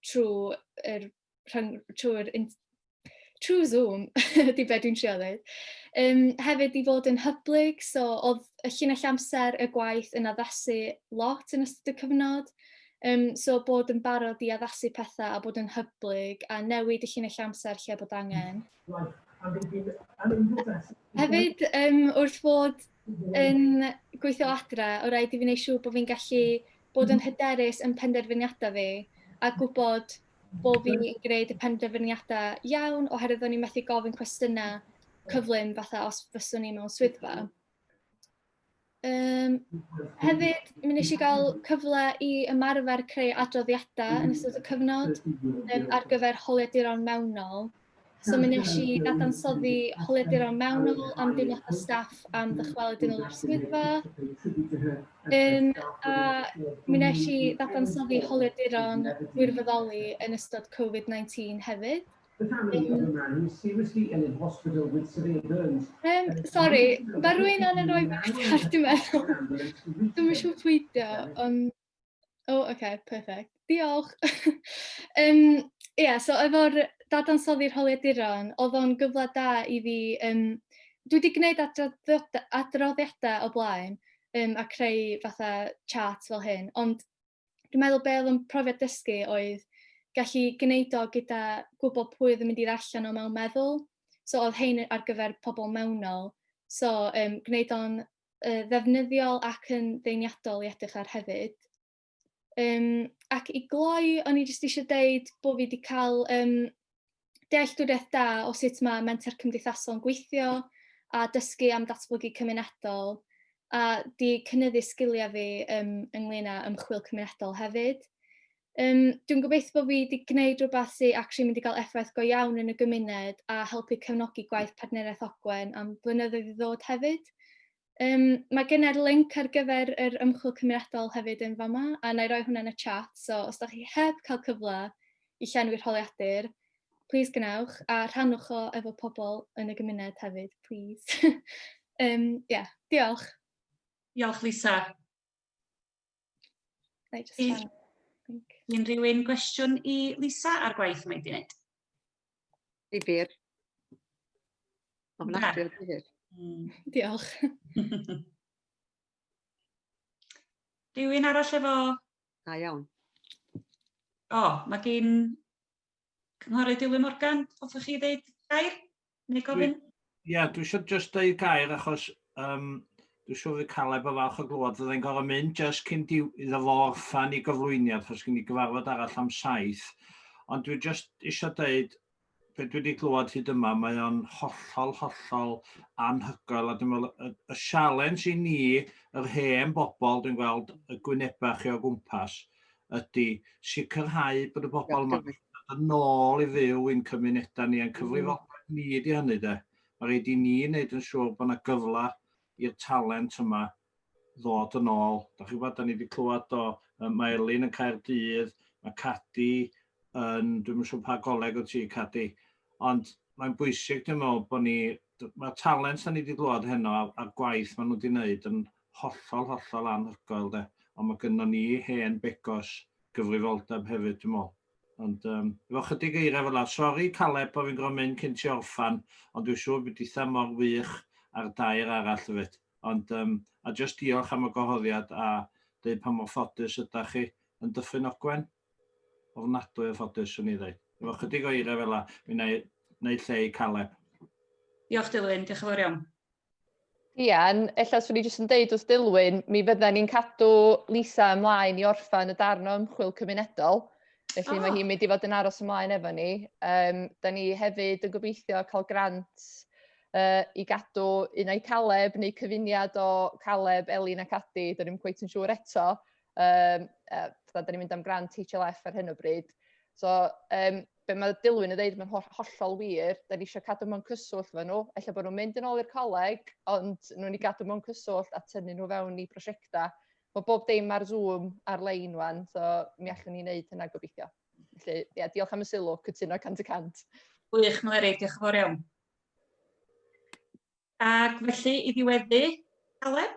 trwy er, rhwng, trwy'r trwy Zoom, ydy be dwi'n trio dweud. Um, hefyd i fod yn hyblyg, so oedd y llinell amser y gwaith yn addasu lot yn ystod y cyfnod. Um, so bod yn barod i addasu pethau a bod yn hyblyg a newid y llinell amser lle bod angen. Hefyd, um, wrth fod yn gweithio adre, o rhaid i fi wneud siŵr bod fi'n gallu bod yn hyderus yn penderfyniadau fi a gwybod bo' fi yn gwneud y penderfyniadau iawn oherwydd o'n i'n methu gofyn cwestiynau cyflym fatha os fyswn i mewn swyddfa. Um, hefyd, mi nes i gael cyfle i ymarfer creu adroddiadau yn ystod y cyfnod um, ar gyfer holiaduron mewnol. So mi nes i ddadansoddi holiaduron mewnol am deimladau staff am ddychwelyd yn ôl i'r swyddfa. Um, a mi nes i ddadansoddi holiaduron wirfoddoli yn ystod Covid-19 hefyd. Um, sorry, mae rwy'n angen rhoi beth ar dwi'n meddwl. Dwi'n siŵr pwydio, ond... O, oh, okay, perfect. Diolch. um, yeah, so efo'r dadansoddi rholiaduron, oedd o'n gyfle da i fi... Um, dwi wedi gwneud adroddiadau o blaen um, a creu fatha chat fel hyn, ond dwi'n meddwl be oedd yn profiad dysgu oedd gallu gwneud o gyda gwybod pwy oedd yn mynd i allan o mewn meddwl. So oedd hein ar gyfer pobl mewnol. So um, gwneud o'n yy ddefnyddiol ac yn ddeniadol i edrych ar hefyd. Um, ac i gloi, o'n i jyst eisiau deud bod fi wedi cael um, dealltwriaeth da o sut mae menter cymdeithasol yn gweithio a dysgu am datblygu cymunedol a di cynnyddu sgiliau fi um, ynglyn â ymchwil cymunedol hefyd. Yym, dwi'n gobeithio bod fi 'di gwneud rhywbeth sy actually mynd i gael effaith go iawn yn y gymuned a helpu cefnogi gwaith Partneriaeth Ogwen am flynyddoedd i ddod hefyd. Um, mae gynnar link ar gyfer yr ymchwil cymeriadol hefyd yn fama, a na i roi hwnna yn y chat, so os da chi heb cael cyfle i llenwi'r holiadur, please gwnewch, a rhannwch o efo pobl yn y gymuned hefyd, please. um, yeah, diolch. Diolch, Lisa. Neu just rhan. Unrhyw un gwestiwn i Lisa ar gwaith mae'n di wneud? Difyr. Ofnadwy o difyr. Hmm. Diolch. Rhywun arall efo... Da iawn. O, mae gen Cynghorydd Dilwyn Morgan, hoffech chi ddeud gair neu gofyn? Ie, yeah, dwi eisiau just deud gair achos um, dwi'n siŵr fy Caleb o falch o glwad, fydde'n gorau mynd just cyn diw, iddo fo orffan i gyflwyniad, achos gen i gyfarfod arall am saith. Ond dwi just eisiau deud, be dwi wedi glwad hyd yma, mae o'n hollol, hollol anhygoel, a dwi'n meddwl, y, y sialens i ni, yr hen bobl, dwi'n gweld y gwynebau chi o gwmpas, ydy sicrhau bod y bobl yma yn nôl i fyw i'n cymunedau ni, a'n cyfrifoldeb ni ydy hynny de. Mae rhaid i ni wneud yn siŵr bod yna gyfle i'r talent yma ddod yn ôl. Da chi'n gwybod, da ni wedi clywed o, mae Elin yn Caerdydd, mae Cadi yn, dwi'n mynd siŵr pa goleg o ti Cadi, ond mae'n bwysig dwi'n meddwl bod ni Mae'r talent da ni wedi glywed heno a'r gwaith maen nhw wedi wneud yn hollol, hollol anhygoel de. Ond mae gynnon ni hen begos gyfrifoldeb hefyd dwi'n meddwl. Ond um, efo chydig eiriau fel la, sori Caleb bod fi'n gorfod mynd cyn ti orffan, ond dwi'n siŵr bod eitha mor wych ar dair arall hefyd. Ond um, a jyst diolch am y gohoddiad a dweud pa mor ffodus ydych chi yn Dyffryn Ogwen. Ofnadwy o ffodus, swn i ddeud. Efo chydig o eira fela, mi wna i wneud lle i Caleb. Diolch Dilwyn, diolch yn fawr iawn. Rhian, ella swn i jyst yn deud wrth Dilwyn, mi fydden ni'n cadw Lisa ymlaen i orffan y darn o ymchwil cymunedol, felly oh. mae hi'n mynd i fod yn aros ymlaen efo ni. Um, da ni hefyd yn gobeithio cael grant uh, i gadw un o'i Caleb neu cyfuniad o Caleb, Elin ac Adi, dyn ni'n cweith yn siŵr eto, Um, uh, da ni'n mynd am grant HLF ar hyn o bryd. So, um, be mae Dilwyn yn dweud, mae'n ho hollol wir, da ni eisiau cadw mewn cyswllt fe nhw, efallai bod nhw'n mynd yn ôl i'r coleg, ond nhw'n ni gadw mewn cyswllt a tynnu nhw fewn i prosiectau. Mae bob dim ar Zoom ar-lein wan, so mi allwn ni wneud hynna gobeithio. Felly, ie, yeah, diolch am y sylw, cytuno 100%. Gwych, Mleri, diolch yn fawr iawn. Ac felly, i ddiweddu, Aleb?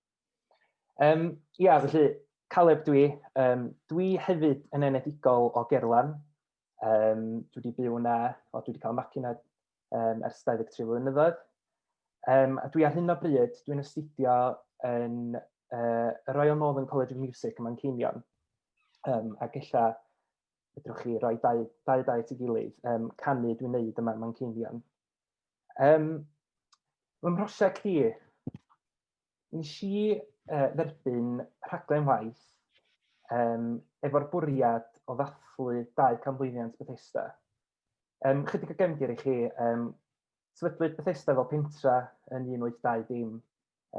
Um, ia, felly, Caleb dwi. Um, dwi hefyd yn enedigol o Gerlan. Um, dwi wedi byw yna, o, dwi wedi cael magu yna um, ers 23 flynyddoedd. Um, a dwi ar hyn o bryd, dwi'n astudio yn uh, y Royal Northern College of Music yma'n Ceinion. Um, ac ella, fedrwch chi roi dau, dau dau at ei gilydd, um, canu dwi'n neud yma yma'n Ceinion. Um, Mae'n mhrosiect i, nes i uh, dderbyn rhaglen waith um, efo'r bwriad o ddathlu dau canmlwyddiant Bethesda. Um, chydig o gefndir i chi, um, sefydlwyd Bethesda fel pentra yn 1820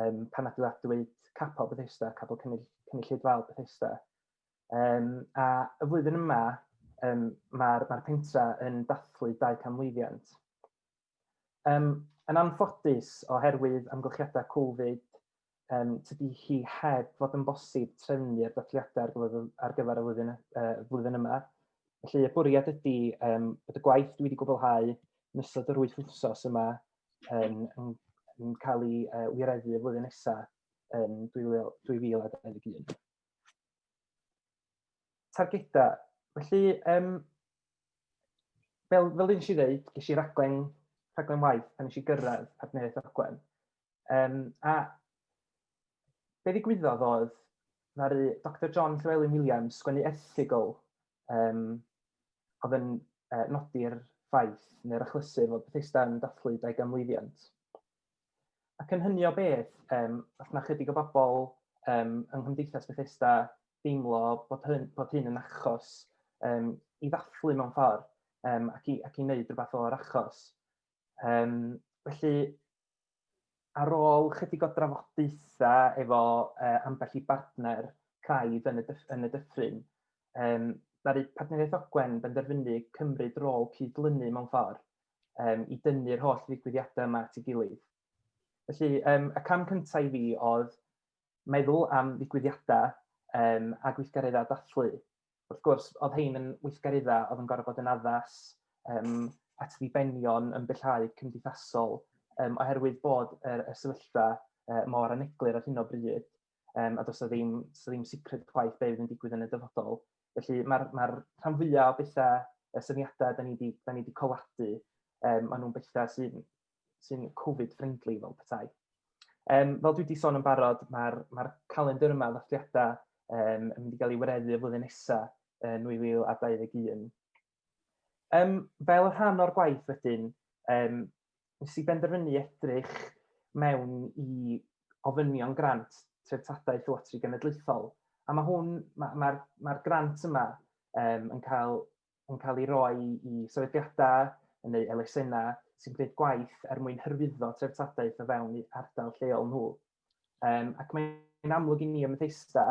um, pan adeiladwyd capel Bethesda, capel cynnyll, cynulleidfaol Bethesda. Um, a y flwyddyn yma, um, mae'r ma pentra yn dathlu dau canmlwyddiant. Um, yn anffodus, oherwydd amgylchiadau Covid, um, tydi hi heb fod yn bosib trefnu'r datliadau ar gyfer y flwyddyn, uh, flwyddyn yma. Felly, y bwriad ydy um, bod y gwaith dwi wedi gwblhau yn ystod yr wyth wythnos yma um, yn, yn cael ei uh, wireddu y flwyddyn nesaf yn 2021. targedau. Felly, um, fel, fel un si ddeud, ges i raglen, raglen waith pan nes i gyrraedd partneriaeth ogwen. Um, a be ddigwyddodd oedd, ddaru Dr John Llewelyn Williams sgwennu erthigol um, oedd yn uh, nodi'r ffaith neu'r achlysur fod Bethesda yn dathlu 20 mlwyddiant. Ac yn hynny o beth, yym os ma' chydig o bobl yym yng Nghymdeithas Bethesda deimlo bod hyn bod hyn yn achos yym i ddathlu mewn ffordd yym ac i ac i wneud rhywbeth o'r achos. Yym felly ar ôl chydig o drafodaethau efo yy ambell i bartner craidd yn y dyff- yn y dyffryn, yym ddaru Partneriaeth Ogwen benderfynu cymryd rôl cyd-lynu mewn ffordd um, i dynnu'r holl ddigwyddiadau yma at ei gilydd. Felly, um, y cam cyntaf i fi oedd meddwl am ddigwyddiadau um, a gweithgareddau dathlu. Wrth gwrs, oedd hein yn weithgareddau oedd yn gorfod bod yn addas um, at ddibenion yn bellhau cymdeithasol um, oherwydd bod yr, y sefyllfa uh, mor aneglur ar hyn o bryd. um, a does o ddim, does ddim secret chwaith beth yn digwydd yn y dyfodol. Felly mae'r ma, r, rhan fwyaf o bethau, y syniadau da ni wedi da ni wedi coladu, um, maen nhw'n bethau sy'n sy Covid-friendly fel petai. Um, fel dwi wedi sôn yn barod, mae'r ma, calendr yma ddathliadau um, yn mynd i gael ei wireddu y flwyddyn nesaf, uh, 2021. Um, fel rhan o'r gwaith wedyn, um, nes i benderfynu edrych mewn i ofynion grant treftadaeth Llywodraeth Genedlaethol. A mae hwn, mae'r ma, ma, ma grant yma um, yn, cael, yn cael ei roi i sefydliadau neu elusennau sy'n gwneud gwaith er mwyn hyrwyddo treftadaeth o fewn ardal lleol nhw. Um, ac mae'n amlwg i ni ym Methesda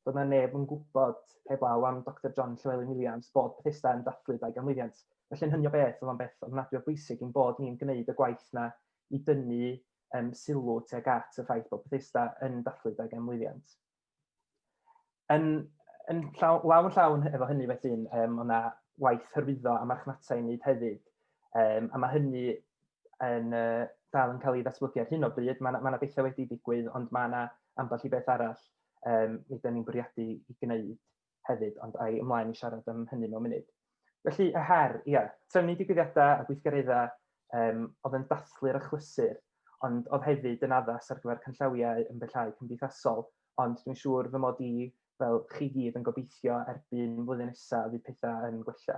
bod yna neb yn gwybod heblaw am Dr John Llewelyn Williams bod Bethesda yn dathlu dau ganmlwyddiant. Felly'n hynny o beth, oedd o'n beth ofnadwy o bwysig i'n bod ni'n gwneud y gwaith na i dynnu um, sylw tuag at y ffaith bod Bethesda yn dathlu dau ganmlwyddiant. Yn, yn llaw, law yn llawn efo hynny felly, um, mae yna waith hyrwyddo a marchnata i wneud hefyd, um, a mae hynny yn uh, dal yn cael ei ddatblygu ar hyn o bryd. Mae yna ma bethau wedi digwydd, ond mae yna ambell i beth arall um, nid ni'n bwriadu i gwneud. hefyd, ond a i ymlaen i siarad am hynny mewn munud. Felly, y her, ia, trefnu digwyddiadau a gweithgareddau um, oedd yn dathlu'r achlysur, ond oedd hefyd yn addas ar gyfer canllawiau yn bellhau cymdeithasol, ond dwi'n siŵr fy mod i fel chi gyd yn gobeithio erbyn flwyddyn nesaf fydd pethau yn gwella.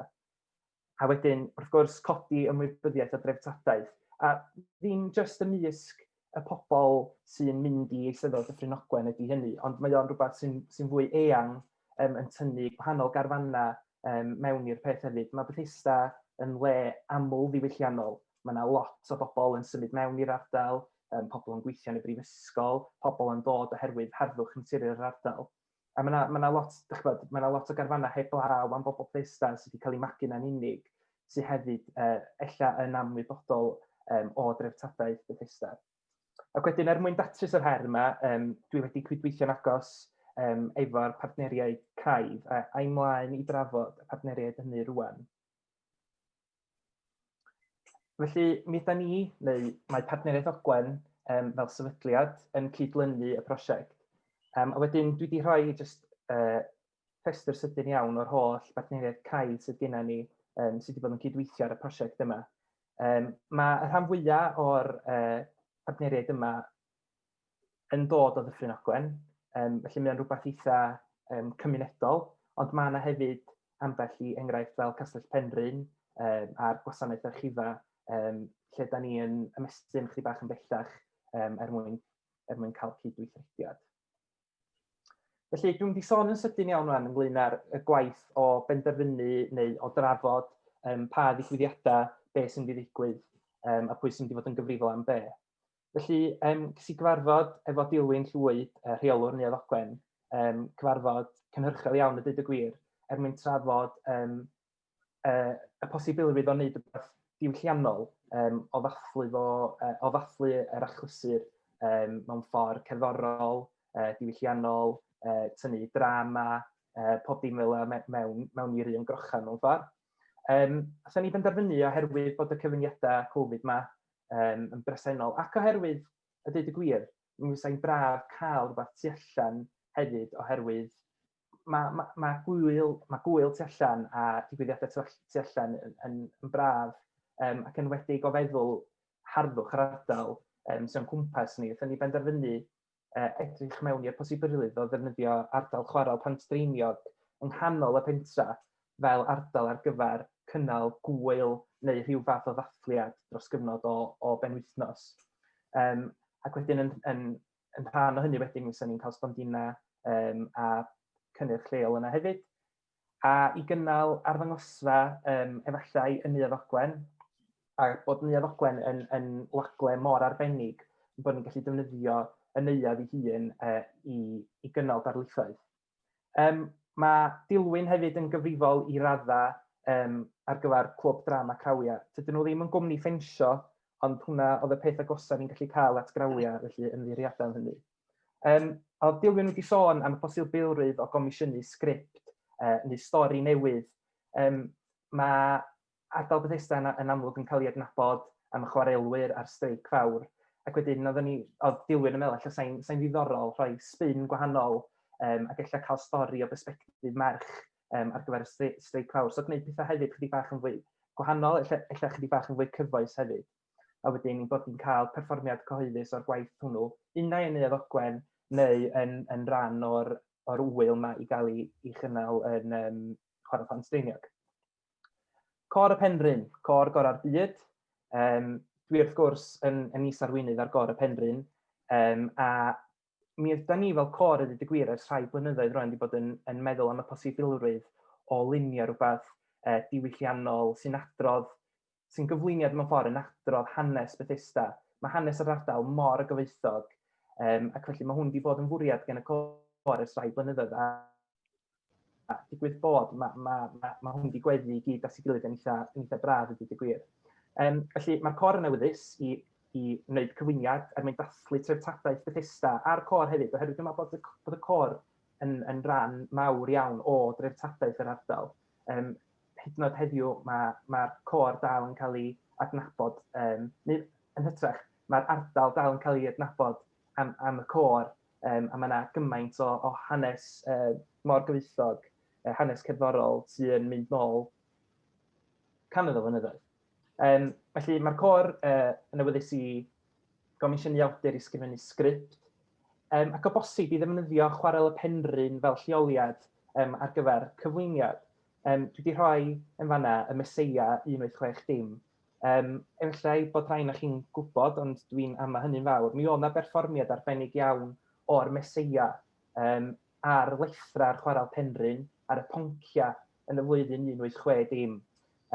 a wedyn, wrth gwrs, codi ymwybyddiaeth a dreftadaeth, a ddim jyst ymysg y pobl sy'n mynd i eisteddfod Dyffryn Ogwen ydy hynny, ond mae o'n rhywbeth sy'n sy fwy eang um, yn tynnu gwahanol garfannau um, mewn i'r peth hefyd. Mae Bethesda yn le aml ddiwylliannol. Mae yna lot o bobl yn symud mewn i'r ardal, um, pobl yn gweithio yn y brifysgol, pobl yn dod oherwydd harddwch naturiol yr ardal. A mae yna, mae yna lot, dych chi'n gwybod, mae yna lot o garfanau heb law am bobl Bethesda sydd wedi cael eu magu na'n unig, sydd hefyd uh, ella yn amwybodol um, o dreftadaeth Bethesda. Ac wedyn, er mwyn datrys yr her yma, um, dwi wedi cydweithio'n agos um, efo'r partneriaid craidd, a a'i mlaen i drafod y partneriaid hynny rwan. Felly, mi ydan ni, neu mae Partneriaeth Ogwen um, fel sefydliad yn cydlynu y prosiect. Um, a wedyn dwi wedi rhoi just uh, rhestr sydyn iawn o'r holl bartneriaeth cael sydd gennym ni um, sydd wedi bod yn cydweithio ar y prosiect yma. Um, mae y rhan fwyaf o'r uh, partneriaid yma yn dod o Ddyffryn Ogwen, um, felly mae'n rhywbeth eitha um, cymunedol, ond mae yna hefyd ambell i enghraifft fel Castell Penrhyn um, a'r gwasanaeth archifa, um, lle da ni yn ymestyn chdi bach yn bellach um, er, mwyn, er mwyn cael cydweithrediad. Felly, dwi'n di sôn yn sydyn iawn rhan ynglyn â'r gwaith o benderfynu neu o drafod um, pa ddigwyddiadau, be sy'n mynd i ddigwydd um, a pwy sy'n mynd i fod yn gyfrifol am be. Felly, yym, ges i gyfarfod efo Dilwyn Llwyd, yy, rheolwr Neuadd Ogwen, yym, cyfarfod cynhyrchiol iawn a deud y gwir, er mwyn trafod yym, yy, y posibilrwydd o wneud rhywbeth diwylliannol yym, o ddathlu fo, yy, o ddathlu yr achlysur yym, mewn ffordd cerddorol, yy, diwylliannol, yy, tynnu drama, yy, pob dim fel yna me- mewn mewn i'r un grochau mewn ffordd. Yym, aethon ni benderfynu oherwydd bod y cyfyngiadau Covid 'ma um, yn bresennol, ac oherwydd, a dweud y gwir, mi fysa'n braf cael rhywbeth tu allan hefyd, oherwydd mae ma, ma gwyl, ma gwyl tu allan a digwyddiadau tu, tu allan yn, yn, yn braf um, ac yn wedi gofeddwl harddwch yr ardal um, sy'n cwmpas ni. Felly ni benderfynu edrych mewn i'r posibilrwydd o ddefnyddio ardal chwarel Pantdreiniog yng nghanol y pentra fel ardal ar gyfer cynnal gŵyl neu rhyw fath o ddathliad dros gyfnod o, o benwythnos. Um, ac wedyn yn, yn, yn rhan o hynny wedyn, mi fysa ni'n cael stondina um, a cynnyrch lleol yna hefyd. a i gynnal arddangosfa yym efallai yn Neuadd Ogwen, a bod Neuadd Ogwen yn yn wagle mor arbennig ein bod ni'n gallu defnyddio y neuadd ei hun yy i i gynnal darlithoedd. Yym mae Dilwyn hefyd yn gyfrifol i raddau yym ar gyfer Clwb Drama Crawiau. Tydyn nhw ddim yn gwmni ffensio, ond hwnna oedd y peth agosaf ni'n gallu cael at grawiau, felly ymddiheuriadau am hynny. Um, a oedd Dilwyn wedi sôn am y posibilrwydd o gomisiynu sgript uh, neu stori newydd. Um, mae ardal Bethesda yn, yn amlwg yn cael ei adnabod am y chwarelwyr a'r streic fawr. Ac wedyn, oedd, ni, oedd Dilwyn yn meddwl, allan sain, sain ddiddorol rhoi spin gwahanol um, ac efallai cael stori o bersbectif merch um, ar gyfer y streic fawr. So gwneud pethau hefyd chydig bach yn fwy gwahanol, efallai chydig bach yn fwy cyfoes hefyd. a wedyn ein bod ni'n cael perfformiad cyhoeddus o'r gwaith hwnnw, unai yn Neuadd Ogwen neu yn, yn rhan o'r, or wyl yma i gael ei, ei chynnal yn um, Chwarae Plant Dreiniog. Cor y Penrhyn, cor gorau'r byd. Um, dwi wrth gwrs yn, yn is arweinydd ar gor y Penrhyn, um, a mi ydyn ni fel cor ydy dy gwir ers rhai blynyddoedd rwan wedi bod yn, yn meddwl am y posibilrwydd o lunio rhywbeth uh, diwylliannol sy'n adrodd sy'n gyflwyniad mewn ffordd yn adrodd hanes Bethesda. Mae hanes yr ardal mor gyfoethog, um, ac felly mae hwn wedi bod yn fwriad gen y cor ers rhai blynyddoedd. A, a digwydd bod, mae, mae, mae, mae hwn wedi gweddu i gyd at ei gilydd yn eitha, yn eitha braf, ydy dweud gwir. Um, felly, mae'r cor yn awyddus i i wneud cyflwyniad er mwyn dathlu treftadaeth Bethesda a'r cor hefyd, oherwydd dwi'n meddwl bod y, bod y cor yn, yn rhan mawr iawn o dreftadaeth yr ardal. Yym, hyd yn oed heddiw, mae mae'r côr dal yn cael ei adnabod, yym neu yn hytrach, mae'r ardal dal yn cael ei adnabod am am y côr, yym a mae 'na gymaint o o hanes yy mor gyfoethog, yy hanes cerddorol sy yn mynd nôl cannoedd o flynyddoedd. Um, felly mae'r cor uh, yn awyddus i gomisiynu awdur i sgrifennu sgript, um, ac o bosib i ddefnyddio chwarel y penrhyn fel lleoliad um, ar gyfer cyflwyniad. Um, dwi wedi rhoi yn fanna y Meseia 186 dim. Um, efallai bod rhain o'ch chi'n gwybod, ond dwi'n ama hynny'n fawr. Mi oedd yna berfformiad arbennig iawn o'r Meseia um, ar lethrau'r chwarel penrhyn, ar y ponciau yn y flwyddyn 1860,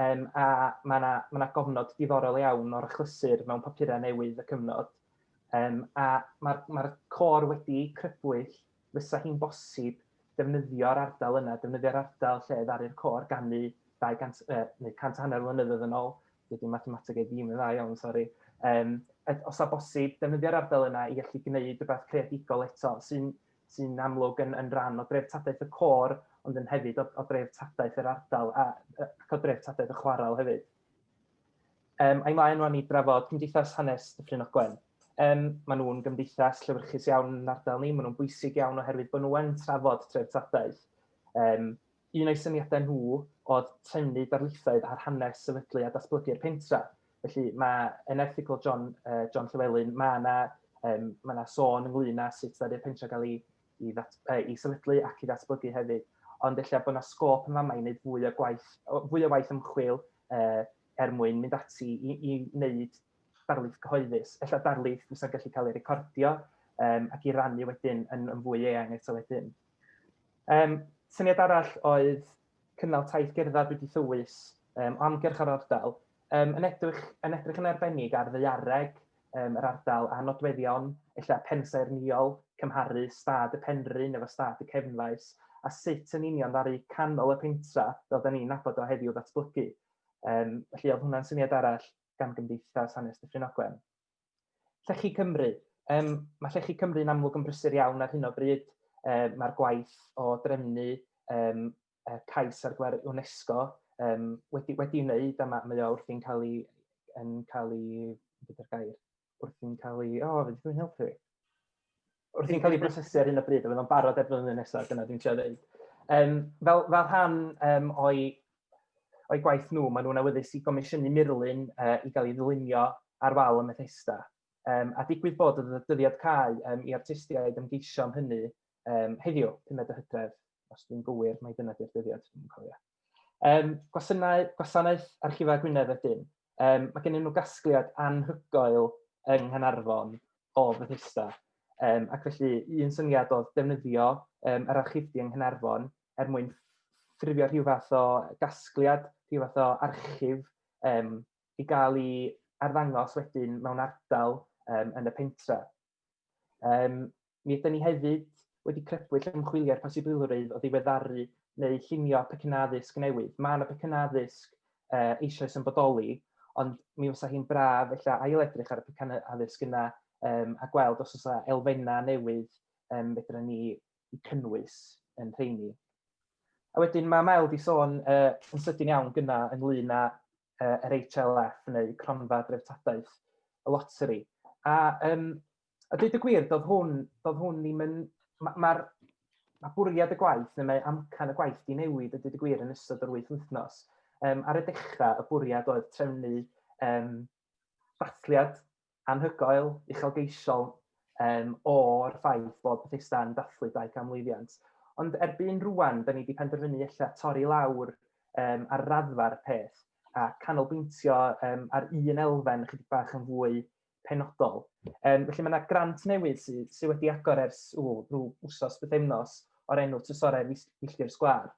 um, a mae yna ma gofnod diddorol iawn o'r achlysur mewn papurau newydd y cyfnod. Um, a mae'r ma cor wedi crybwyll, fysa hi'n bosib defnyddio'r ardal yna, defnyddio'r ardal lle ddaru'r cor gannu 200, uh, neu 100 a hanner mlynyddoedd yn ôl, dydy mathemateg ei ddim yn dda iawn, sori. Um, os a bosib, defnyddio'r ardal yna i allu gwneud rhywbeth creadigol eto, sy'n sy'n amlwg yn, yn rhan o dreftadaeth y côr, ond yn hefyd o, o dreftadaeth yr ardal a, ac o dreftadaeth y chwarel hefyd. Um, a'i mlaen rwan i drafod Cymdeithas Hanes Dyffryn Ogwen. Um, mae nhw'n gymdeithas llyfrchus iawn yn ardal ni, maen nhw'n bwysig iawn oherwydd bod nhw'n trafod treftadaeth. Um, Un o'u syniadau nhw oedd trennu darlithoedd ar hanes sefydlu a datblygu'r pentref. Felly mae yn erthygl John, uh, John Llewellyn, mae yna um, mae yna sôn ynglyn â sut ddaru y pentref gael ei, i, ddat, uh, i sefydlu ac i ddatblygu hefyd. Ond lle bod yna sgôp yn fama i wneud fwy o gwaith, fwy o waith ymchwil uh, er mwyn mynd ati i, i wneud darlith cyhoeddus. Ella darlith fysa'n gallu cael ei recordio um, ac i rannu wedyn yn, yn fwy eang eto wedyn. Um, syniad arall oedd cynnal taith gerdded wedi thywys um, o amgyrch ar ardal, um, yn, edrych, yn edrych yn arbennig ar ddeiareg um, yr ardal a nodweddion, ella pensaer niol, cymharu stad y penrhyn efo stad y cefnfaes, a sut yn union ddaru canol y pentra, fel da ni'n nabod o heddiw ddatblygu. Um, felly oedd hwnna'n syniad arall gan Gymdeithas Hanes Dyffryn Ogwen. Llechi Cymru. Um, mae Llechi Cymru yn amlwg yn brysur iawn ar hyn o bryd. Um, Mae'r gwaith o drefnu um, cais ar gyfer UNESCO um, wedi, wedi wneud a mae, mae o wrthi'n cael ei, yn cael ei, beth yw'r gair, wrthi'n cael ei, o, oh, fe ddech chi'n helpu fi. wrth i'n cael ei brosesu ar hyn o bryd, a fyddai'n barod erbyn flwyddyn nesaf, dyna dwi'n siarad dweud. Um, fel, fel rhan um, o'i, o'i gwaith nhw, maen nhw'n awyddus i gomisiynu murlun uh, i gael ei ddylunio ar wal y Methesda. Um, a digwydd bod y dyddiad cael um, i artistiaid ymgeisio am hynny um, heddiw, 5 o hydref, os dwi'n gywir, mae dyna di'r dyddiad, dwi'n cofio. Um, gwasanaeth, gwasanaeth Archifau Gwynedd wedyn, um, mae gennym nhw gasgliad anhygoel yng Nghanarfon o Fethesda. Um, ac felly, un syniad oedd defnyddio um, yr archifdy yng Nghanarfon er mwyn ffurfio rhyw fath o gasgliad, rhyw fath o archif um, i gael ei arddangos wedyn mewn ardal um, yn y pentra. Um, Mi ydyn ni hefyd wedi crybwyll ymchwiliad posibilrwydd o ddiweddaru neu llunio pecynnau addysg newydd. Mae yna pecynnau addysg uh, eisoes yn bodoli, ond mi fysa hi'n braf ella ail-edrych ar y pecynnau addysg yna um, a gweld os oes elfennau newydd um, fedra ni i cynnwys yn rheini. A wedyn mae Mel di sôn uh, yn sydyn iawn gyna ynglyn â uh, yr HLF neu cronfa dreftadaeth y loteri. A um, a dweud y gwir, doedd hwn, doedd hwn ddim yn... Mae'r ma, ma bwriad y gwaith, neu mae amcan y gwaith di newid y dweud y gwir yn ystod yr wyth wythnos. Um, ar y dechrau, y bwriad oedd trefnu um, dathliad anhygoel, uchelgeisiol um, o'r ffaith bod Bethesda yn dathlu dau cam lwyddiant. Ond erbyn rwan, da ni wedi penderfynu eich torri lawr um, ar raddfa'r peth a canolbwyntio um, ar un elfen chydig bach yn fwy penodol. Um, felly mae yna grant newydd sydd sy wedi agor ers ww, rhyw wsos bythefnos o'r enw Trysorau Filltir Sgwar.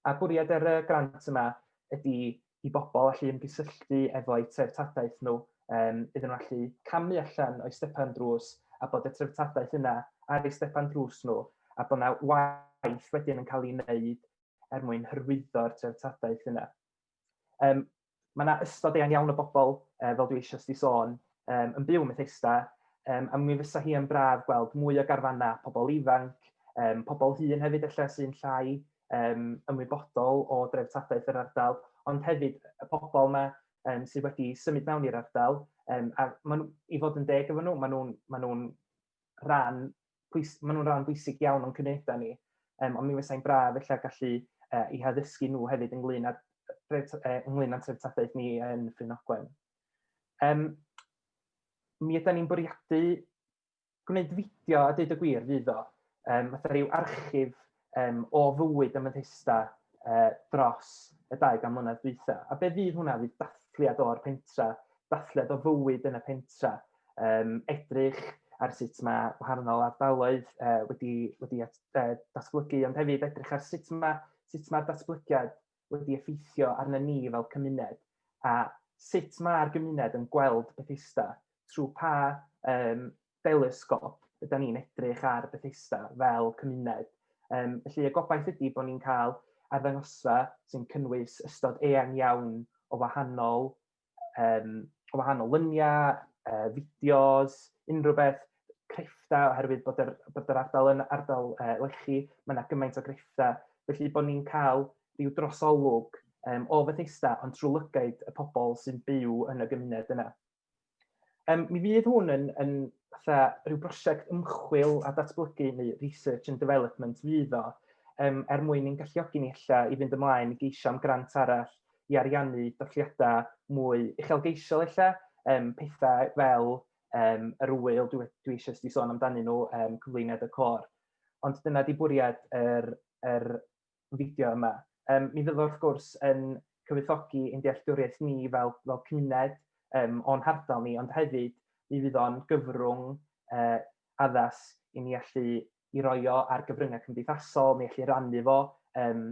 A bwriad yr er, grant yma ydy i bobl allu ymgysylltu efo'u treftadaeth nhw, um, iddyn nhw allu camu allan o'i stepan drws a bod y treftadaeth yna ar ei stepan drws nhw a bod yna waith wedyn yn cael ei wneud er mwyn hyrwyddo'r treftadaeth yna. Um, Mae yna ystod eang iawn o bobl, uh, fel dwi eisiau sti sôn, um, yn byw yn Methesda, um, a mi fysa hi yn braf gweld mwy o garfannau pobl ifanc, um, pobl hun hefyd efallai sy'n llai um, ymwybodol o dreftadaeth yr ardal, ond hefyd y pobl yma um, sydd wedi symud mewn i'r ardal, um, a maen, i fod yn deg efo nhw, maen nhw'n ma nhw rhan pwys, maen nhw'n rhan bwysig iawn o'n cymunedau ni, um, ond mi fysa'n braf efallai gallu uh, i haddysgu nhw hefyd ynglyn â uh, ynglyn â'n treftadaeth ni yn Ffrinogwen. Um, mi ydy ni'n bwriadu gwneud fideo a dweud y gwir fydd o, um, fatha rhyw archif um, o fywyd y Methesda uh, dros y 200 mlynedd dwytha. A be fydd hwnna? Fydd dathliad o'r pentra, dathliad o fywyd yn y pentra, um, edrych ar sut mae gwahanol ardaloedd uh, wedi, wedi at, uh, datblygu, ond hefyd edrych ar sut mae sut mae'r datblygiad wedi effeithio arna ni fel cymuned a sut mae'r gymuned yn gweld Bethesda trwy pa um, fel ysgol, ydy ni'n edrych ar Bethesda fel cymuned. Um, felly y gobaith ydy bod ni'n cael arddangosfa sy'n cynnwys ystod eang iawn o wahanol, um, o wahanol lyniau, uh, fideos, unrhyw beth, crefftau, oherwydd bod yr, bod yr ardal yn ardal uh, lechi, mae yna gymaint o grefftau. Felly bod ni'n cael rhyw drosolwg um, o Fethesda, ond trwy lygaid y pobl sy'n byw yn y gymuned yna. Um, mi fydd hwn yn, yn fatha rhyw brosiect ymchwil a datblygu neu research and development fydd o, um, er mwyn i'n galluogi ni illa i fynd ymlaen i geisio am grant arall i ariannu dolliadau mwy uchelgeisiol illa, um, pethau fel um, yr wyl dwi, dwi eisiau sti sôn amdanyn nhw, um, cyflwyniad y cor. Ond dyna di bwriad yr, yr fideo yma. Yym mi fydd o wrth gwrs yn cyfoethogi ein dealltwriaeth ni fel fel cymuned yym o'n hardal ni, ond hefyd mi fydd o'n gyfrwng yy addas i ni allu i roi o ar gyfryngau cymdeithasol, ni allu rannu fo yym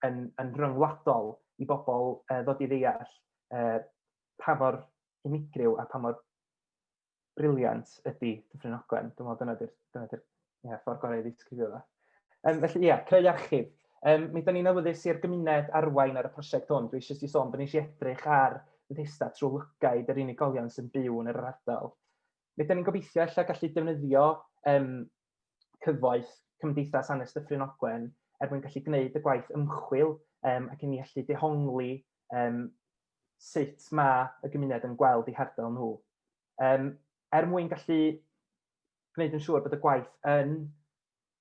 yn yn rhyngwladol i bobl yy ddod i ddeall yy pa mor unigryw a pa mor briliant ydy Dyffryn Ogwen. Dwi'n meddwl dyna di'r dyna di'r ia, ffordd gorau i ddisgrifio fo. Um, felly, ia, creu archif. Um, mi da ni'n awyddus i'r gymuned arwain ar y prosiect hwn. Dwi eisiau ti sôn bod ni eisiau edrych ar Bethesda trwy lygaid yr unigolion sy'n byw yn yr ardal. Mi da ni'n gobeithio allai gallu defnyddio um, cyfoeth Cymdeithas Anes Dyffryn Ogwen er mwyn gallu gwneud y gwaith ymchwil um, ac i ni allu dehongli um, sut mae y gymuned yn gweld eu hardal nhw. Um, er mwyn gallu gwneud yn siŵr bod y gwaith yn,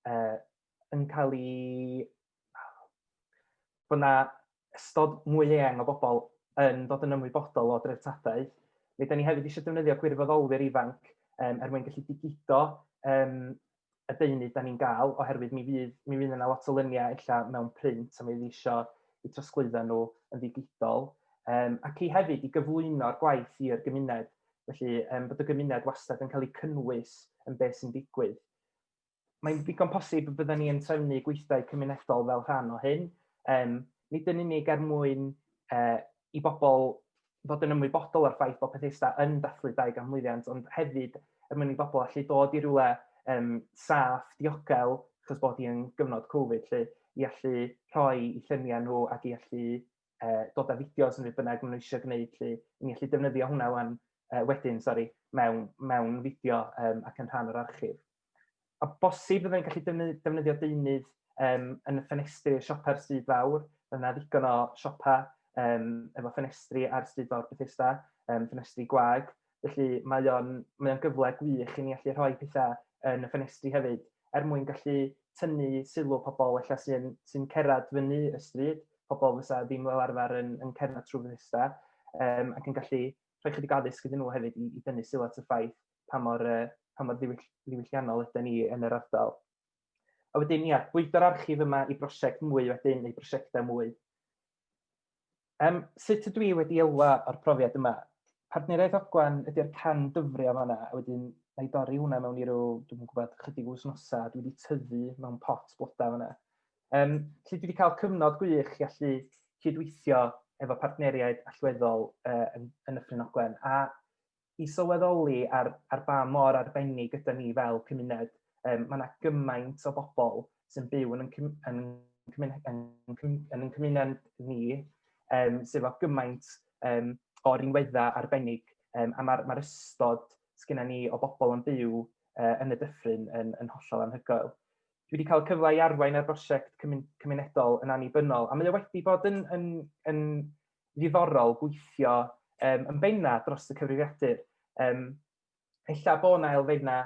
uh, yn cael ei... bod yna ystod mwy eang o bobl yn dod yn ymwybodol o dreftadaeth. Fe da ni hefyd eisiau defnyddio gwirfoddolwyr ifanc um, er mwyn gallu digido um, y deunydd da ni'n gael, oherwydd mi fydd, mi fydd yna lot o lyniau ella mewn print a mi fydd isio i trosglwyddo nhw yn ddigidol, um, ac i hefyd i gyflwyno'r gwaith i'r gymuned, felly um, bod y gymuned wastad yn cael ei cynnwys yn beth sy'n digwydd. Mae'n ddigon posib y byddwn ni yn trefnu gweithdai cymunedol fel rhan o hyn, um, nid yn unig er mwyn uh, i bobl fod yn ymwybodol o'r ffaith bod Pethesda yn dathlu 2000 mlwyddiant, ond hefyd er mwyn i bobl allu dod i rywle um, saff, diogel, achos bod hi yn gyfnod Covid, lle i allu rhoi i lluniau nhw ac i allu uh, dod â fideos yn rhywbeth bynnag maen nhw eisiau gwneud, lle i ni allu defnyddio hwnna wan, uh, wedyn, sori, mewn, mewn fideo um, ac yn rhan o'r archif. a bosib byddai'n gallu defnyddio deunydd um, yn y ffenestri siopa'r stryd fawr. Mae yna ddigon o siopa um, efo ffenestri ar stryd fawr Bethesda, um, ffenestri gwag. Felly mae o'n, mae o'n gyfle gwych i ni allu rhoi pethau yn y ffenestri hefyd, er mwyn gallu tynnu sylw pobl efallai sy'n sy cerad fyny y stryd, pobl fysa ddim fel arfer yn, yn cerdded trwy Bethesda, um, ac yn gallu rhoi chydig addysg iddyn nhw hefyd i, i dynnu sylw at y ffaith pa mor, uh, pa mor ddiwyll, ddiwylliannol ydyn ni yn yr ardal. A wedyn, ia, bwydo'r archif yma i brosiect mwy wedyn, neu brosiectau mwy. Um, sut ydw i wedi elwa o'r profiad yma? Partneriaeth Ogwan ydy'r can dyfrio fanna, a wedyn na i dorri hwnna mewn i rw, dwi'n gwybod, chydig wsnosau, dwi wedi tyfu mewn pot blodau fanna. Um, lle dwi wedi cael cyfnod gwych i allu cydweithio efo partneriaid allweddol uh, yn, yn y Ffrin Ogwen, a i sylweddoli ar, ar ba mor arbennig ydy ni fel cymuned. Um, mae yna gymaint o bobl sy'n byw yn yn, yn, yn, yn, yn, yn cymuned ni um, sydd o gymaint um, o rinweddau arbennig um, a mae'r ma ystod sgynna ni o bobl yn byw uh, yn y dyffryn yn, yn hollol anhygoel. Dwi wedi cael cyfle i arwain ar brosiect cymunedol yn annibynnol, a mae o wedi bod yn, yn, yn, ddiddorol gweithio um, yn benna dros y cyfrifiadur. Um, ella bod yna elfenna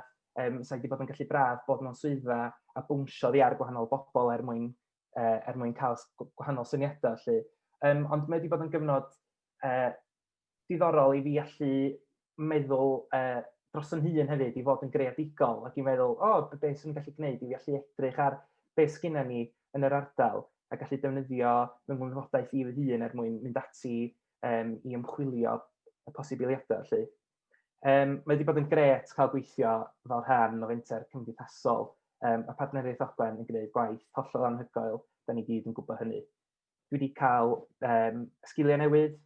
um, sydd wedi bod yn gallu braf bod mewn swyddfa a bwnsio ddi ar gwahanol bobl er mwyn, uh, er mwyn cael gwahanol syniadau. Lle. Um, ond mae wedi bod yn gyfnod uh, diddorol i fi allu meddwl uh, dros yn hun hefyd i fod yn greadigol ac i meddwl, o, oh, beth sy'n gallu gwneud i fi allu edrych ar beth sgynna ni yn yr ardal a gallu defnyddio fy ngwybodau i fy hun er mwyn mynd ati um, i ymchwilio y posibiliadau. Felly. Um, mae wedi bod yn gret cael gweithio fel rhan o fenter cymdeithasol um, a partneriaeth Ogwen yn gwneud gwaith hollol anhygoel, da ni gyd yn gwybod hynny. dwi wedi cael um, sgiliau newydd,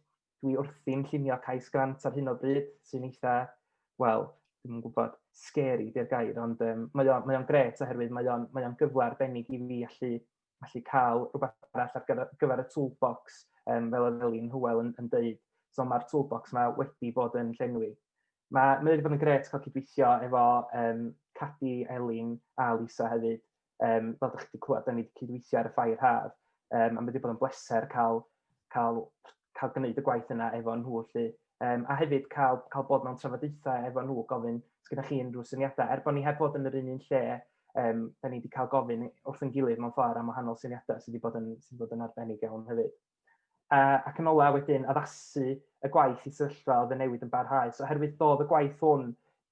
dwi wrthi'n llunio cais grant ar hyn o bryd sy'n eitha, wel, dwi'n gwybod, scary di'r gair, ond um, mae o'n mae gret oherwydd mae o'n mae o gyfle arbennig i fi allu, allu cael rhywbeth arall ar gyfer, gyfer y toolbox, um, fel oedd Elin Hywel yn, yn dweud. So mae'r toolbox yma wedi bod yn llenwi. Mae, mae wedi bod yn gret cael cydweithio efo um, Cadi, Elin a Lisa hefyd. Um, fel ydych chi wedi clywed, da ni wedi cydweithio ar y ffair haf, um, a mae wedi bod yn bleser cael, cael, cael gwneud y gwaith yna efo nhw. Lly. Um, a hefyd cael, cael bod mewn trafodaethau efo nhw, gofyn, os gyda chi unrhyw syniadau. Er bod ni heb fod yn yr un un lle, um, da ni wedi cael gofyn wrth yn gilydd mewn ffordd am wahanol syniadau sydd wedi bod yn, sydd wedi bod yn arbennig iawn hefyd. Uh, ac yn ola wedyn, addasu y gwaith i sefyllfa oedd y newid yn barhaus. Oherwydd doedd y gwaith hwn,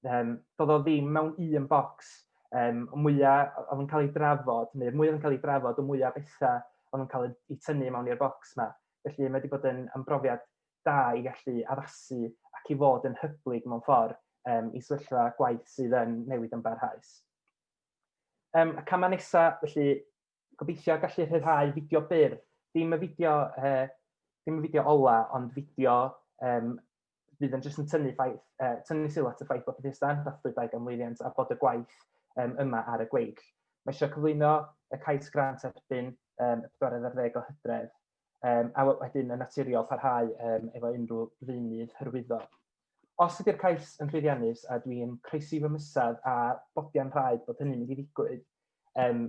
um, doedd o ddim mewn un bocs, um, mwyaf oedd yn cael ei drafod, neu mwyaf oedd yn cael ei drafod, y mwyaf bethau oedd yn cael ei tynnu mewn i'r bocs yma. Felly mae wedi bod yn ymrofiad da i gallu addasu ac i fod yn hyblyg mewn ffordd um, i sefyllfa gwaith sydd yn newid yn barhaus. Um, y camau nesaf, felly, gobeithio gallu rhyddhau fideo byr, ddim y fideo, uh, ddim y fideo ola, ond fideo um, fydd yn jyst yn tynnu, ffaith, uh, tynnu sylw at y ffaith bod Bethesda yn dathlu dau ganmlwyddiant a bod y gwaith um, yma ar y gweill. Mae eisiau cyflwyno y cais grant erbyn um, y 14 o hydref um, a wedyn yn naturiol parhau um, efo unrhyw ddeunydd hyrwyddo. Os ydy'r cais yn llwyddiannus a dwi'n croesi fy mysad a bodiau'n rhaid bod hynny'n mynd i ddigwydd, um,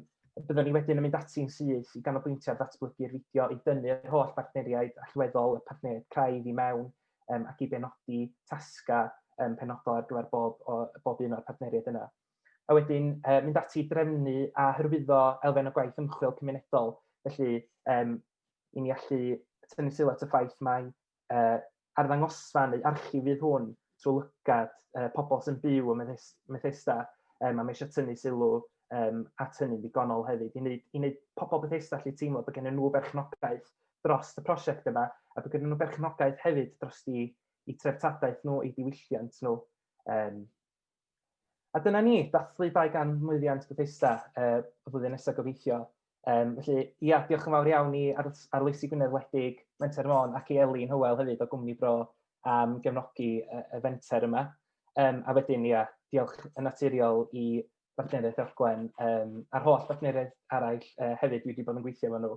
byddwn ni wedyn yn mynd ati'n syth i ganolbwyntio ar ddatblygu'r fideo i dynnu'r holl bartneriaid allweddol y partneriaid craidd i mewn um, ac i benodi tasga um, penodol ar gyfer bob, o, bob un o'r partneriaid yna. a wedyn uh, mynd ati i drefnu a hyrwyddo elfen o gwaith ymchwil cymunedol. Felly, um, i ni allu tynnu sylw at y ffaith mae uh, arddangosfa neu archif fydd hwn trwy lygad uh, pobl sy'n byw ym Methesda, um, a mae eisiau tynnu sylw um, at hynny'n ddigonol hefyd, i wneud, i wneud pobl Bethesda allu teimlo bod gen nhw berchnogaeth dros y prosiect yma, a bod gen nhw berchnogaeth hefyd dros i, i treftadaeth nhw, i diwylliant nhw. Um, A dyna ni, dathlu 200 mlwyddiant Bethesda uh, y flwyddyn nesaf gobeithio. Um, felly, ia, diolch yn fawr iawn i ar, arloesi Gwynedd Wledig, Menter Môn ac i Elin Hywel hefyd o Gwmni Bro am gefnogi y, y fenter yma. Um, a wedyn, ia, diolch yn naturiol i Bartneriaeth Orglen um, a'r holl bartneriaeth arall uh, hefyd dwi wedi bod yn gweithio efo nhw.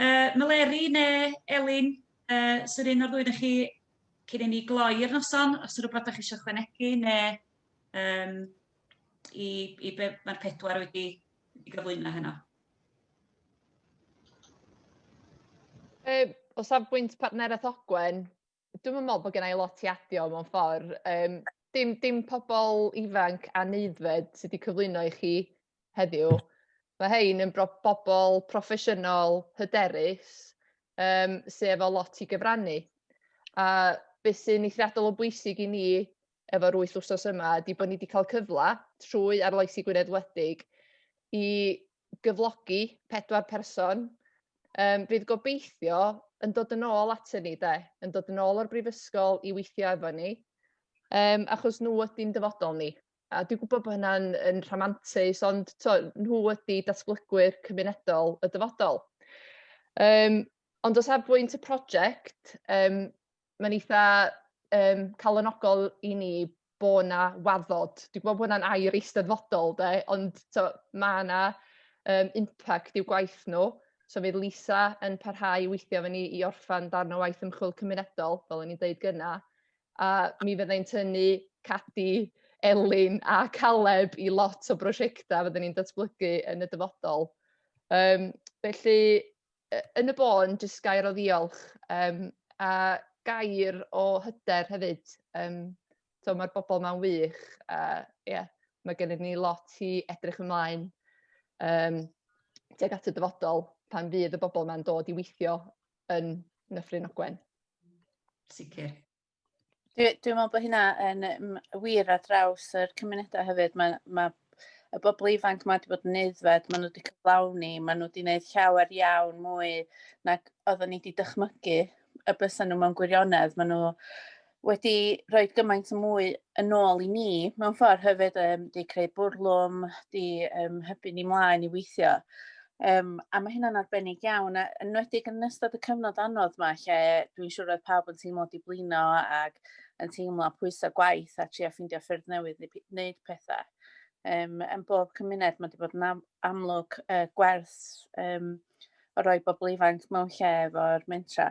Uh, Meleri neu Elin, uh, sy'r un o'r ddwy chi cyn i ni gloi'r noson, os ydych rhywbeth ydych eisiau chwanegu neu um, i, i be mae'r pedwar wedi, wedi gyflwyno heno. E, o safbwynt partneraeth Ogwen, dwi'm yn me'wl bo' gennai lot i adio mewn ffor yym dim dim pobol ifanc anaeddfed sy 'di cyflwyno i chi heddiw ma' rhein yn bro- bobol proffesiynol hyderus yym sy efo lot i gyfrannu a be' sy'n eithriadol o bwysig i ni efo'r wyth wsos yma 'di bo' ni 'di ca'l cyfla trwy arloesi Gwynedd Wledig i gyflogi pedwar person, um, fydd gobeithio yn dod yn ôl atyn ni, de, yn dod yn ôl o'r brifysgol i weithio efo ni, um, achos nhw ydy'n dyfodol ni. A dwi'n gwybod bod hynna'n yn rhamantus, ond to, nhw ydy datblygwyr cymunedol y dyfodol. Um, ond o safbwynt y prosiect, um, mae'n eitha um, calonogol i ni bo na waddod. Dwi'n gwybod bod hwnna'n air eisteddfodol, de, ond so, mae yna um, impact i'w gwaith nhw. So fydd Lisa yn parhau i weithio fe ni i orffan darn o waith ymchwil cymunedol, fel o'n i'n dweud gyna, a mi fyddai'n tynnu Cadi, Elin a Caleb i lot o brosiectau fyddwn ni'n datblygu yn y dyfodol. Um, felly, yy yn y bôn jyst gair o ddiolch yym a gair o hyder hefyd yym t'o' ma'r bobol 'ma'n wych a ie ma' gennyn ni lot i edrych ymlaen yym tuag at y dyfodol pan fydd y bobol 'ma'n dod i weithio yn Nyffryn Ogwen. Sicir. Dwi, dwi meddwl bod hynna yn wir ar draws yr cymunedau hefyd. Mae, mae y bobl ifanc mae wedi bod yn neuddfed, maen nhw wedi cyflawni, maen nhw wedi gwneud llawer iawn mwy nag oeddwn ni wedi dychmygu y bysau nhw mewn gwirionedd. Maen nhw wedi rhoi gymaint o mwy yn ôl i ni mewn ffordd hefyd, um, wedi creu bwrlwm, wedi um, hybu ni mlaen i weithio. Yym a ma' hynna'n arbennig iawn a yn enwedig yn ystod y cyfnod anodd 'ma lle dwi'n siŵr oedd pawb yn teimlo diblino ag yn teimlo pwysa' gwaith a trio ffeindio ffyrdd newydd i p- neud petha. Yym yn bob cymuned ma' 'di bod yn am- amlwg yy gwers yym o roi bobol ifanc mewn lle efo'r mentra.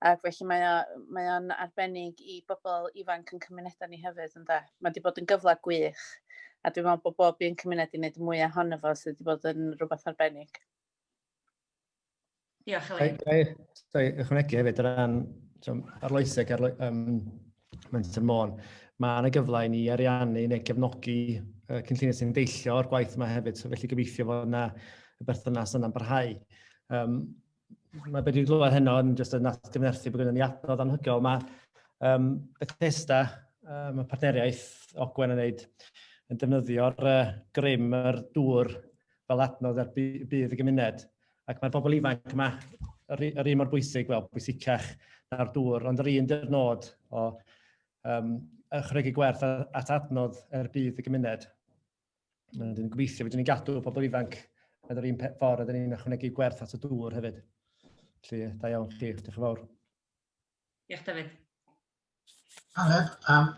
Ac felly mae o, mae o'n arbennig i bobl ifanc yn cymunedau ni hefyd, ynde? Mae wedi bod yn gyfle gwych, a dwi'n meddwl bod bob un cymuned i wneud mwy ohono fo sydd wedi bod yn rhywbeth arbennig. Diolch, Elin. Dwi ychwanegu hefyd o ran arloeseg, arlo, um, Menter Môn. Mae yna gyfle i ni ariannu neu gefnogi uh, cynlluniau sy'n deillio o'r gwaith yma hefyd, so felly gobeithio fod yna y berthynas yna'n barhau. Um, mae beth dwi'n glywed heno yn jyst yn atgyfnerthu bod gennym ni adnodd anhygoel. Mae um, Bethesda, um, mae partneriaeth Ogwen yn neud, yn defnyddio'r uh, grym, yr dŵr fel adnodd ar bydd y gymuned. Ac mae'r bobl ifanc yma, yr, yr un mor bwysig, wel, bwysicach na'r dŵr, ond yr un dy'r nod o um, ychwanegu gwerth at adnodd er bydd y gymuned. Mae'n dyn gobeithio fydden ni'n gadw pobl ifanc yn yr un ffordd, ydyn ni'n ychwanegu gwerth at y dŵr hefyd. Felly, da iawn chi, diolch yn fawr. Diolch, David. Aled, um,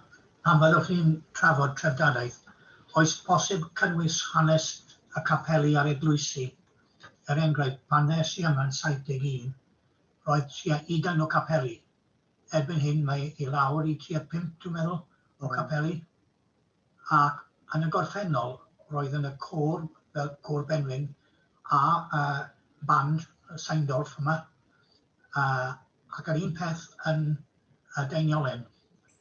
pan fyddwch chi'n trafod trefdadaeth, oes posib cynnwys hanes y capeli a'r eglwysi? Er enghraifft, pan ddes i yma yn 71, roedd tua ugain o capeli. Erbyn hyn mae i lawr i tua pump, dwi'n meddwl, o hmm. capeli. Ac yn y gorffennol, roedd yn y côr fel Côr Benwyn a band Saindorf yma, ac yr un peth yn y Daeniolen.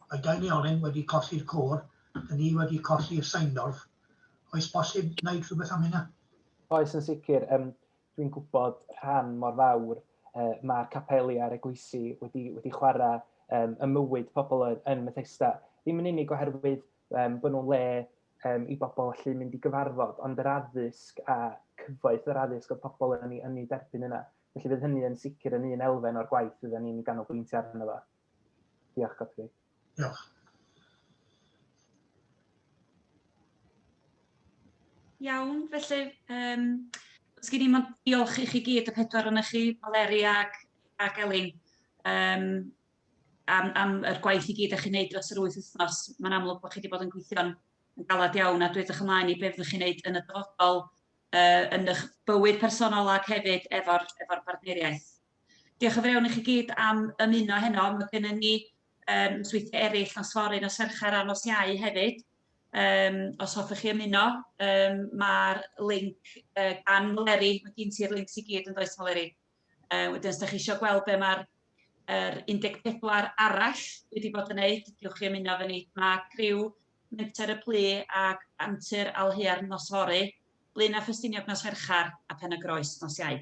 Mae Daeniolen wedi colli'r côr, dyn ni wedi colli'r Saindorf. Oes bosib wneud rhywbeth am hynna? Oes, yn sicr. Dwi'n gwybod rhan mor fawr uh, mae'r capeli a'r eglwysi wedi, wedi chwarae um, y mywyd pobl yn, yn Methesda. Ddim yn unig oherwydd um, bod nhw'n le um, i bobl allu mynd i gyfarfod, ond yr addysg a cyfoeth yr addysg o pobl yn ei, yn ei derbyn yna. Felly fydd hynny yn sicr yn un elfen o'r gwaith fydden ni'n ganolbwyntio arno fo. Diolch, Godfrey. Diolch. Iawn, felly um, os gen i mond diolch i chi gyd y pedwar yna chi, Maleri ac, ac Elin, um, am, am yr gwaith i gyd ych chi'n gwneud dros yr wyth wythnos. Mae'n amlwg bod chi wedi bod yn gweithio'n galad iawn a dwi ydych ymlaen i beth ydych chi'n gwneud yn y dyfodol uh, yn eich bywyd personol ac hefyd efo'r efo partneriaeth. Diolch yn fawr i chi gyd am ymuno heno. Mae gennym ni um, nosweithiau eraill, nos fory, nos Fercher a nos Iau hefyd. Um, os hoffech chi ymuno, um, mae'r link uh, gan Meleri, mae gen ti'r links i gyd yn does Meleri. Uh, wedyn, os da chi eisiau gweld be mae'r er 14 arall wedi bod yn gwneud, diolch chi ymuno fe ni. Mae criw Menter y Plu ac Antur Alhua'r nos fory, Blyn a Ffestiniog nos Fercher a Pen y Groes nos Iau.